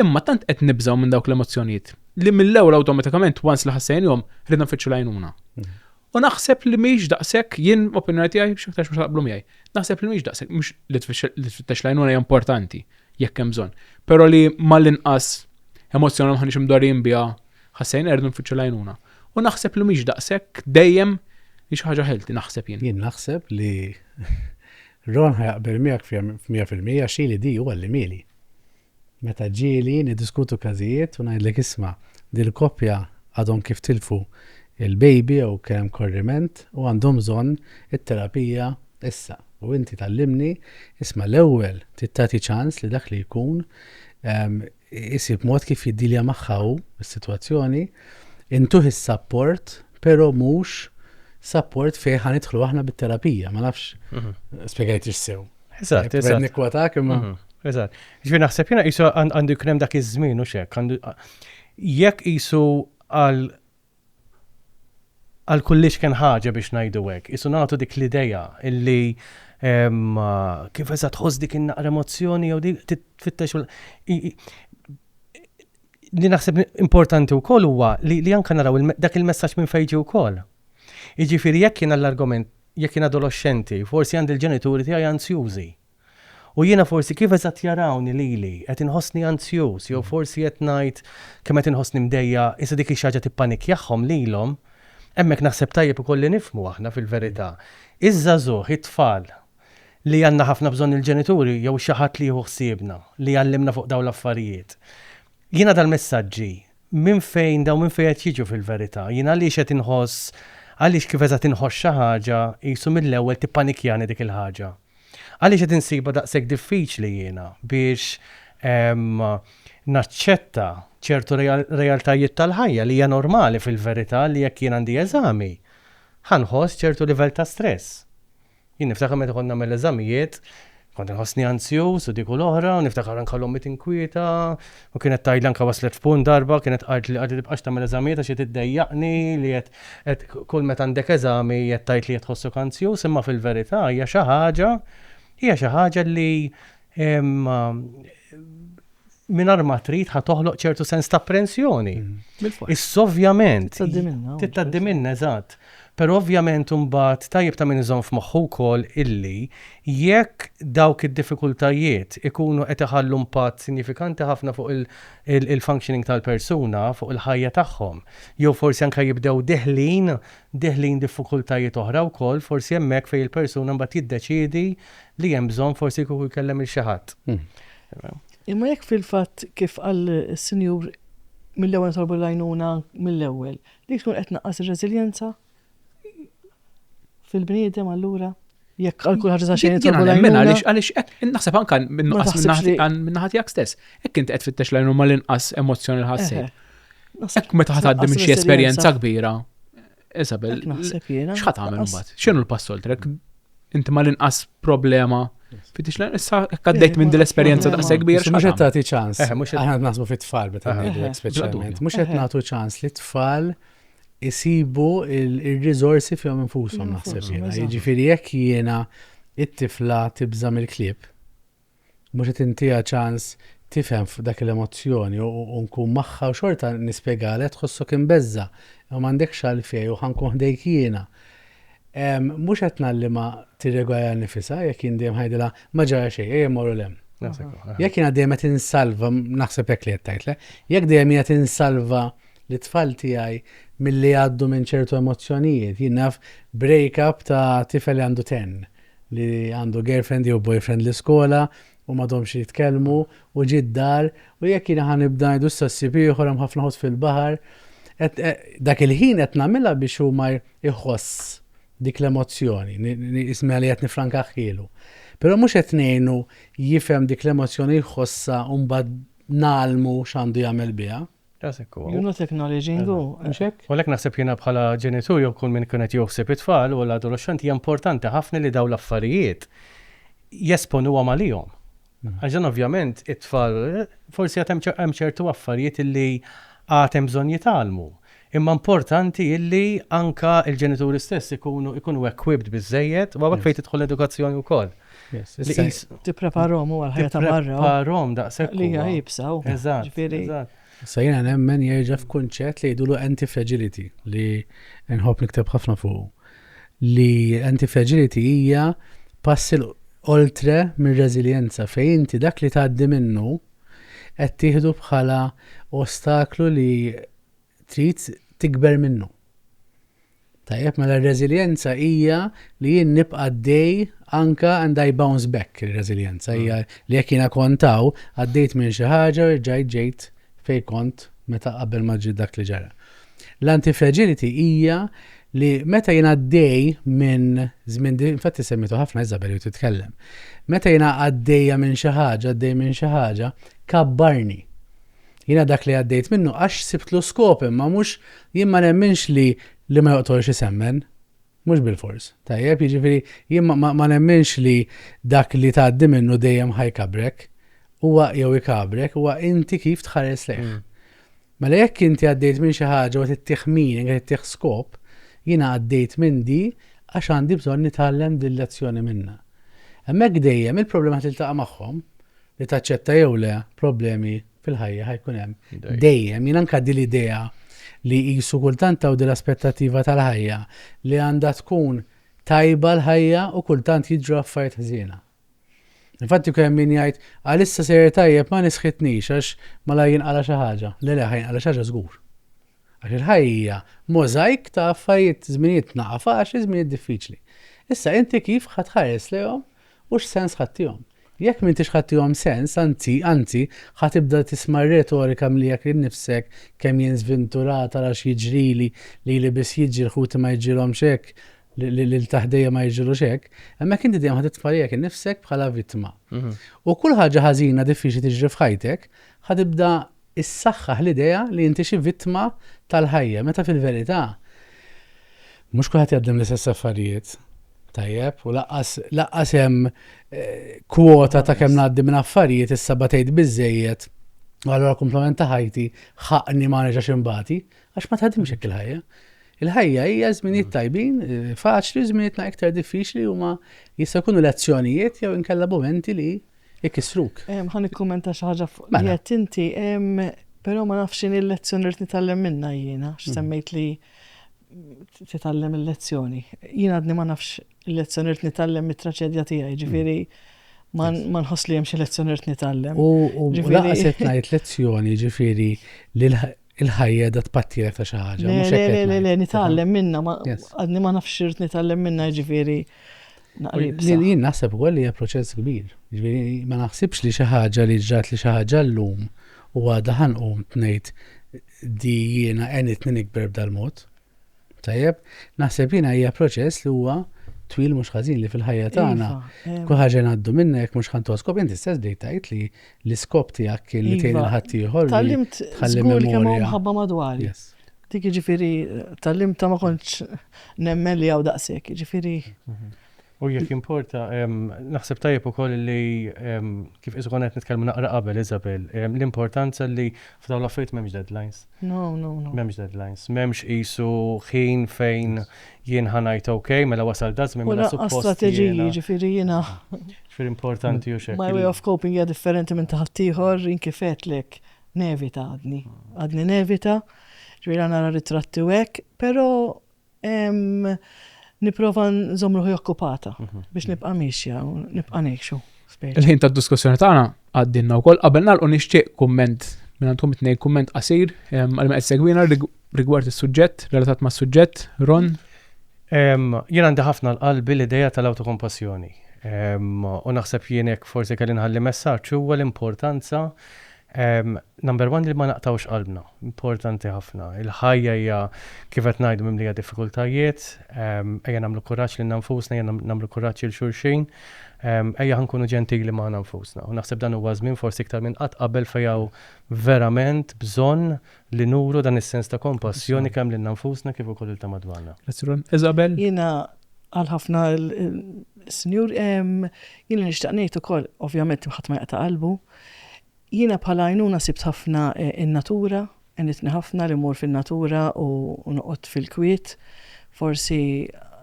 Imma tant qed nibżgħu minn dawk l-emozzjonijiet li mill-ewwel awtomatikament once li ħassejnihom ridna nfittxu l-għajnuna. Mhm. U naħseb li mhix daqshekk jien opinjoni tiegħi xi aktarx mhux taqblu miegħi. Naħseb li mhix daqshekk mhux li tfittex l-għajnuna hija importanti jekk hemm bżonn. Però li mal-inqas emozzjoni ma ħaniex imdorrijin biha ħassejna rridu nfittxu l-għajnuna. U naħseb li mhix daqshekk dejjem hi xi ħaġa ħelti naħseb jien. Jien naħseb li Ron ħajaqbel miegħek f'mija fil-mija xili di huwa li mieli. Meta ġieli niddiskutu każijiet u ngħidlek isma' din il-koppja għadhom kif tilfu l-baby jew kien hemm korriment u għandhom bżonn it-terapija issa u inti tgħallimni isma' l-ewwel trid tagħti ċans li dak li jkun isib mod kif jiddilja magħha hu s-sitwazzjoni, intuh is-sapport però mhux sapport fejn ħa nidħlu aħna bit-terapija, ma nafx spjegajtix sew. Eżatt, eżatt. Nikwatak imma. Mhm, eżatt. Ġifieri naħseb jiena qisu għandu jkun hemm dak iż-żmien u xek. Jekk qisu għal għal kullix kien ħaġa biex ngħidu hekk, qisu nagħtu dik l-idea illi kif eżatt tħoss dik in-naqra emozzjoni jew dik titfittex li naħseb importanti wkoll huwa li anke naraw dak il-messaġġ minn fejġi wkoll. Jiġifieri jekk jiena l-argument, jekk jien adoloxxenti, forsi għandi l-ġenituri tiegħi anzjużi. U jiena forsi kif eżatt jarawni lili, qed inħossni anzjuż jew forsi qed ngħid kemm qed inħossni mdejjaq, issa dik hi xi ħaġa tippanikjahom lilhom. Hemmhekk naħseb tajjeb ukoll li nifhmu aħna fil-verità. Iż-żagħżugħ, it-tfal, li għandna ħafna bżonn il-ġenituri jew xi ħadd li jieħu ħsiebna, li jgħallimna fuq dawn l-affarijiet. Jiena dal-messaġġi Minn fejn dawn, minn fejn qed jiġu fil-verità? Jien għaliex qed inħoss, għaliex kif eżatt inħoss xi ħaġa, qisu mill-ewwel tippanikjani dik il-ħaġa? Għaliex qed insibha daqshekk diffiċli jiena biex naċċetta ċertu realtajiet tal-ħajja li hija normali fil-verità li jekk jien għandi eżami, ħa nħoss ċertu livell ta' stress? Jien niftakar meta kont nagħmel l-eżamijiet, kont inħossni anzjuż u dik u l-oħra, u niftakar anke l-ommi tinkwieta, u kienet tgħidli anke waslet f'punt darba, kienet qaltli qatt li tibqax tagħmel eżamijiet għax qed iddejjaqni li qed qed kull meta għandek eżami qed tgħid li qed tħossok anzjuż, imma fil-verità hija xi ħaġa hija xi ħaġa li mingħajr ma trid ħa toħloq ċertu sens ta' apprensjoni. Mm-hmm. Is ovvjament. Tittaddi minna, eżatt. Però ovvjament imbagħad tajjeb ta' min iżomm f'moħħu wkoll illi jekk dawk id-diffikultajiet ikunu qed iħallu impatt sinjifikanti ħafna fuq il-functioning tal-persuna, fuq il-ħajja tagħhom, jew forsi anke jibdew deħlin, deħlin diffikultajiet oħra wkoll, forsi hemmhekk fejn il-persuna mbagħad jiddeċiedi li hemm bżonn forsi kieku jkellem il xi ħadd. Mm. Imma jekk fil-fatt, kif qal is-Sinjur, mill-ewwel nitolbu l-għajnuna mill-ewwel, dik tkun qed tnaqqas ir-reżiljenza fil-bniedem allura? Jekk għal kull ħaġa ta' xejn nitolbu l-għajnuna. Mela għaliex għaliex naħseb anke minnuqqas minnaħa tiegħek stess. Hekk inti qed fittex l-għajnuna mal-inqas emozzjoni l-ħassejt. Hekk meta ħaddim xi esperjenza kbira, Isabel, Dak naħseb jiena. x'ħat tagħmel Naqas- imbagħad? X'inhu l-pass oltrek? Inti ma l-inqas problema fi tixla issa hekk għaddejt minn din l-esperjenza Problema. daqshekk kbir Mux qed tagħti ċans. Eh, mhux qed- Aħna qed naħsbu fit-tfal meta Eh. ngħidu hekk Eh. speċjalment. Mhux qed Eh. nagħtu ċans li t-tfal isibu il- ir-riżorsi fihom infushom Fihom naħseb infushom, jiena. eżatt. Jiġifieri jekk jiena it-tifla tibża mill-klieb, mhux qed intiha ċans tifhem f'dak il-emozzjoni u nkun magħha u xorta nispjegalha tħossok imbeżża' imma m'għandekx għalfejn u ħa nkun ħdejk jiena. Mhux qed ngħallimha tirregolarja nifisha jekk jien dejjem ħa ngħidilha ma ġara xejn ejja mmorru 'l hemm. Jekk jiena dejjem qed insalva, naħseb hekk li qed tgħid le, jekk dejjem jien qed insalva lit-tfal tiegħi milli jgħaddu minn ċertu emozzjonijiet, jien naf break-up ta' tifel li għandu 10, li għandu girlfriend jew boyfriend l-iskola u m'għadhomx jitkellmu u ġie d-dar u jekk jiena ħa nibda ngħidu issa ssib ieħor hemm ħafna ħut fil-baħar qed dak il-ħin qed nagħmilha biex hu ma jħoss dik l-emozzjoni ismiha li qed nifrankahhielu. Però mhux qed ngħinu jifhem dik l-emozzjoni jħossha u mbagħad ngħallmu x'għandu jagħmel biha. Rasek u. You're not acknowledging u. Mhux hekk? U għalhekk naħseb jiena bħala ġenitur jew kull min ikun qed joħsib it-tfal u l-adoloxxenti hija importanti ħafna li dawn l-affarijiet jesponuhom għalihom. Għax dan ovvjament it-tfal forsi għad hemm ċertu affarijiet illi għad hemm bżonn jitgħallmu. Imma importanti illi anke l-ġenituri stess ikunu equipped biżżejjed u hawnhekk fejn tidħol l-edukazzjoni wkoll. Li qis tippreparhom u għal-ħajja ta' barra. Tippreparhom daqshekk. Li hija jibsaw. Eżatt. Eżatt. Sa jiena nemmen jerġa' f'kunċett li jidulu anti-fragility li nħobb nikteb ħafna fuq. Li anti-fragility hija passi oltre mir-reżiljenza fejn inti dak li tgħaddi minnu qed tieħdu bħala ostaklu li trid tikber minnu. Tajjeb, mela r-reżiljenza hija li jien nibqa' dej anka and I bounce back ir-reżiljenza hija mm. li jekk jiena kontaw għaddejt minn xi ħaġa u rġajt ġejt fej kont meta qabel ma ġi dak li ġara. L-antifragility hija li meta jiena għaddej minn żmien infatti semmitu ħafna Isabel u titkellem. Meta jiena għaddejja minn xi ħaġa, għaddej minn xi ħaġa, kabbarni. Jiena dak li għaddejt minnu għax sibtlu skop imma mhux, jien ma nemminx li li ma joqtolx isemmen. Mhux bilfors. Tajjeb? Jiġifieri jien ma ma ma nemminx li dak li tgħaddi minnu dejjem ħa jkabbrek. Huwa jew ikabbrek, huwa inti kif tħares lejh. Mela jekk inti għaddejt minn xi ħaġa u qed ittih meaning, qed ittih skop, jiena għaddejt minn di għax għandi bżonn nitgħallem dil-lezzjoni minnha. Hemmhekk dejjem il-problema ħa tiltaqa' magħhom li taċċetta jew le problemi fil-ħajja ħajkun hemm dejjem. Jien anka di l-idea li jisu kultant taw l aspettativa tal-ħajja li għandha tkun tajba l-ħajja u kultant jiġru affarijiet ħżiena. Infatti kemm min jgħid għalissa sejjer tajjeb ma nisħitnix għax mala jinqala xi ħaġa. Le le ħajnqala xi ħaġa żgur. Għax il-ħajja hija możajk ta' affarijiet, żminijiet naqa' faċli, żminijiet diffiċli. Issa inti kif ħa tħares lejhom u x'sens ħa ttihom? Jekk m'intix ħa ttihom sens, anzi, anzi, ħa tibda tisma' r-retorika mliek lil nifsek, kemm jien żvinturat, ara x'jiġrili, lili biss jiġri, lil ħuti ma jiġrilhomx hekk, lil ta' ħdejja ma jiġrilux hekk, hemmhekk inti dejjem ħa titfa' lilek innifsek bħala vittma. U kull ħaġa ħażina diffiċli tiġri f'ħajtek, ħa tibda issaħħaħ l-idea li inti xi vittma tal-ħajja, meta fil-verità mhux kulħadd jgħaddem l-istess affarijiet. Tajjeb, u laqqas laqqas hemm eh, kwota ta' kemm ngħaddi minn affarijiet issa batejt biżejjed u allura komplement ta' ħajti ħaqni ma nerġax imbati għax ma tħadimx hekk il-ħajja. Il-ħajja hija żminijiet tajbin, eh, faċli, żminijietna iktar diffiċli huma jista' jkunu lezzjonijiet jew inkella momenti li ikissruk. Ħa nikkummenta xi ħaġa fuq li qed inti, però ma nafx x'inhi l-lezzjoni li qed nitgħallem minnha jiena, x'semmejt li titgħallem il-lezzjoni. Jien għadni ma nafx il-lezzjoni li nitgħallem mit-traċedja tiegħi, ġifieri ma nħoss li hemm xi lezzjoni li nitgħallem. U laqas qed ngħid lezzjoni, ġifieri li il-ħajja da tpattilek ta' xi ħaġa. Le, le, le, le, nitgħallem minna, għadni ma nafx irt nitgħallem minna ġifieri. Jien naħseb ukoll li hija proċess kbir. Ġifieri ma naħsibx li xi ħaġa li ġrat li xi ħaġa llum u għadha ħanqum tnejt di jiena għenitni nikber b'dal-mod. Tajjeb, naħseb jiena hija proċess li huwa twil mhux ħażin li fil-ħajja iva, tagħna. Iva, Kull ħaġa ngħaddu minna jekk mhux ħantoskop, inti stess bdejt tgħid li l-iskop tiegħek kien li tgħin iva, il-ħadd ieħor. Tallimt żgur kemm hawn ħabba madwar. Dik jiġifieri tallimt ta' ma kontx nemmen li hawn daqshekk, jiġifieri. Mhm. U jekk jimporta, naħseb tajjeb ukoll li kif qisu konna qed nitkellmu naqra qabel Isabel, l-importanza li f'dawn l-affarijiet m'hemmx deadlines. No, no, no. M'hemmx deadlines. M'hemmx qisu ħin fejn jien ħa ngħid ok, mela wasal da żmien mela suppost. U strateġiji, ġifieri jiena. Ġifieri importanti u xejn. My way of coping hija differenti minn taħt ieħor, jien kif għedlek nevita għadni. Għadni nevita, ġifieri nara ritratti u hekk, però Niprofa nżomm ruħi okkupata biex nibqa' miexja u nibqa' ngħixu. Il-ħin tad-diskussjoni tagħna għaddinna wkoll qabel nagħlqu nixtieq kumment minn għandkom it-tnejn kumment qasir għal ma qed segwina rigward is-suġġett relatat mas-suġġett Ron. Jien għandi ħafna l-qalbi l-idea tal-awtokompassjoni. U naħseb jienek forsi kelli nħalli messaġġ huwa l-importanza Ehm, number one li ma naqtgħux qalbna, importanti ħafna. Il-ħajja hija kif qed ngħidu mimlija diffikultajiet, ehm, ejja nagħmlu kuraġġ lilna nfusna, ejja nagħmlu kuraġġ lil xulxin, ehm, ejja ħankunu ġentili magħna nfusna. U naħseb dan huwa żmien forsi iktar minn qatt qabel fejn hawn verament bżonn li nuru dan is-sens ta' kompassjoni kemm lilna nfusna kif ukoll lil ta' madwarna. Isabel? Jiena għal ħafna l-Sinjur, ehm, jiena nixtaq ngħid ukoll, ovvjament ħadd ma jaqta' qalbu, ehm, Jiena bħala għajnuna sibt ħafna n-natura, għenitni ħafna li mmur fin-natura u noqgħod fil-kwiet, forsi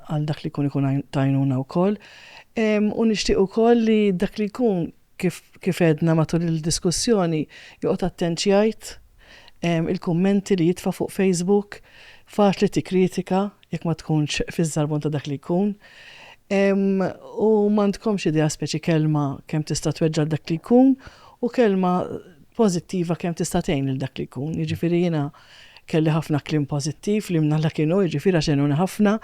għal dak li jkun ikun ta' għajnuna wkoll. U nixtieq ukoll li dak li jkun kif għedna matul il-diskussjoni joqgħod attent x'jgħid, il-kummenti li jitfa' fuq Facebook, faċli tikkritika, jekk ma tkunx fiż-żarbun ta' dak li jkun, u m'għandkomx idea speċi kelma kemm tista' tweġġa' dak li jkun u kelma pożittiva kemm tista' tgħin lil dak li jkun. Jiġifieri jiena kelli ħafna kliem pożittiv li mnalla kien hu, jiġifieri għax għenuni ħafna,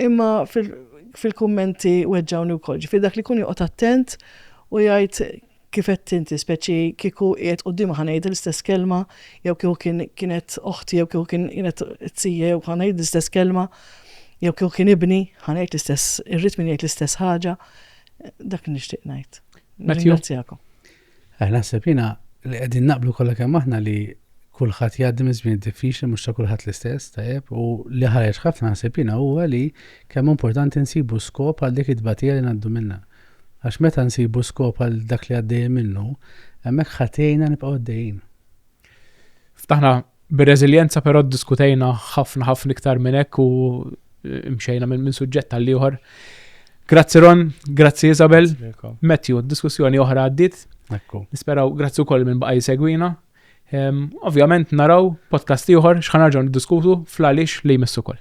imma fil-kummenti weġġgħuni wkoll. Ġifieri dak li jkun joqgħod attent u jgħid Kif għedt inti, speċi kieku qiegħed quddiema ħa ngħid l-istess kelma, jew kieku kien kienet oħti jew kieku kien kienet t-tija jew ħa ngħid l-istess kelma, jew kieku kien ibni ħa ngħid l-istess irrid min jgħid l-istess ħaġa. Dak nixtieq ngħid. Ringrazzjakom. Eh, naħseb jiena li qegħdin naqblu kollha kemm aħna li kulħadd jgħaddi minn żmien diffiċli mhux ta' kulħadd l-istess tajjeb u li ħareġ ħafna naħseb jiena huwa li kemm importanti nsibu skop għal dik it-tbatija li ngħaddu minnha. Għax meta nsibu skop għal dak li għaddejjin minnu, hemmhekk ħa tgħinna nibqgħu għaddejjin. Ftaħna bir-reżiljenza però ddiskutejna ħafna ħafna iktar minn hekk u mxejna minn min suġġett għal ieħor. Grazzi Ron, grazzi Isabel, Matthew, diskussjoni oħra għaddit. Nisperaw, grazzi wkoll minn baqaj segwina. Ehm, ovvjament naraw podcast ieħor x'ħanarġgħu niddiskutu fl-għaliex li jmissu koll.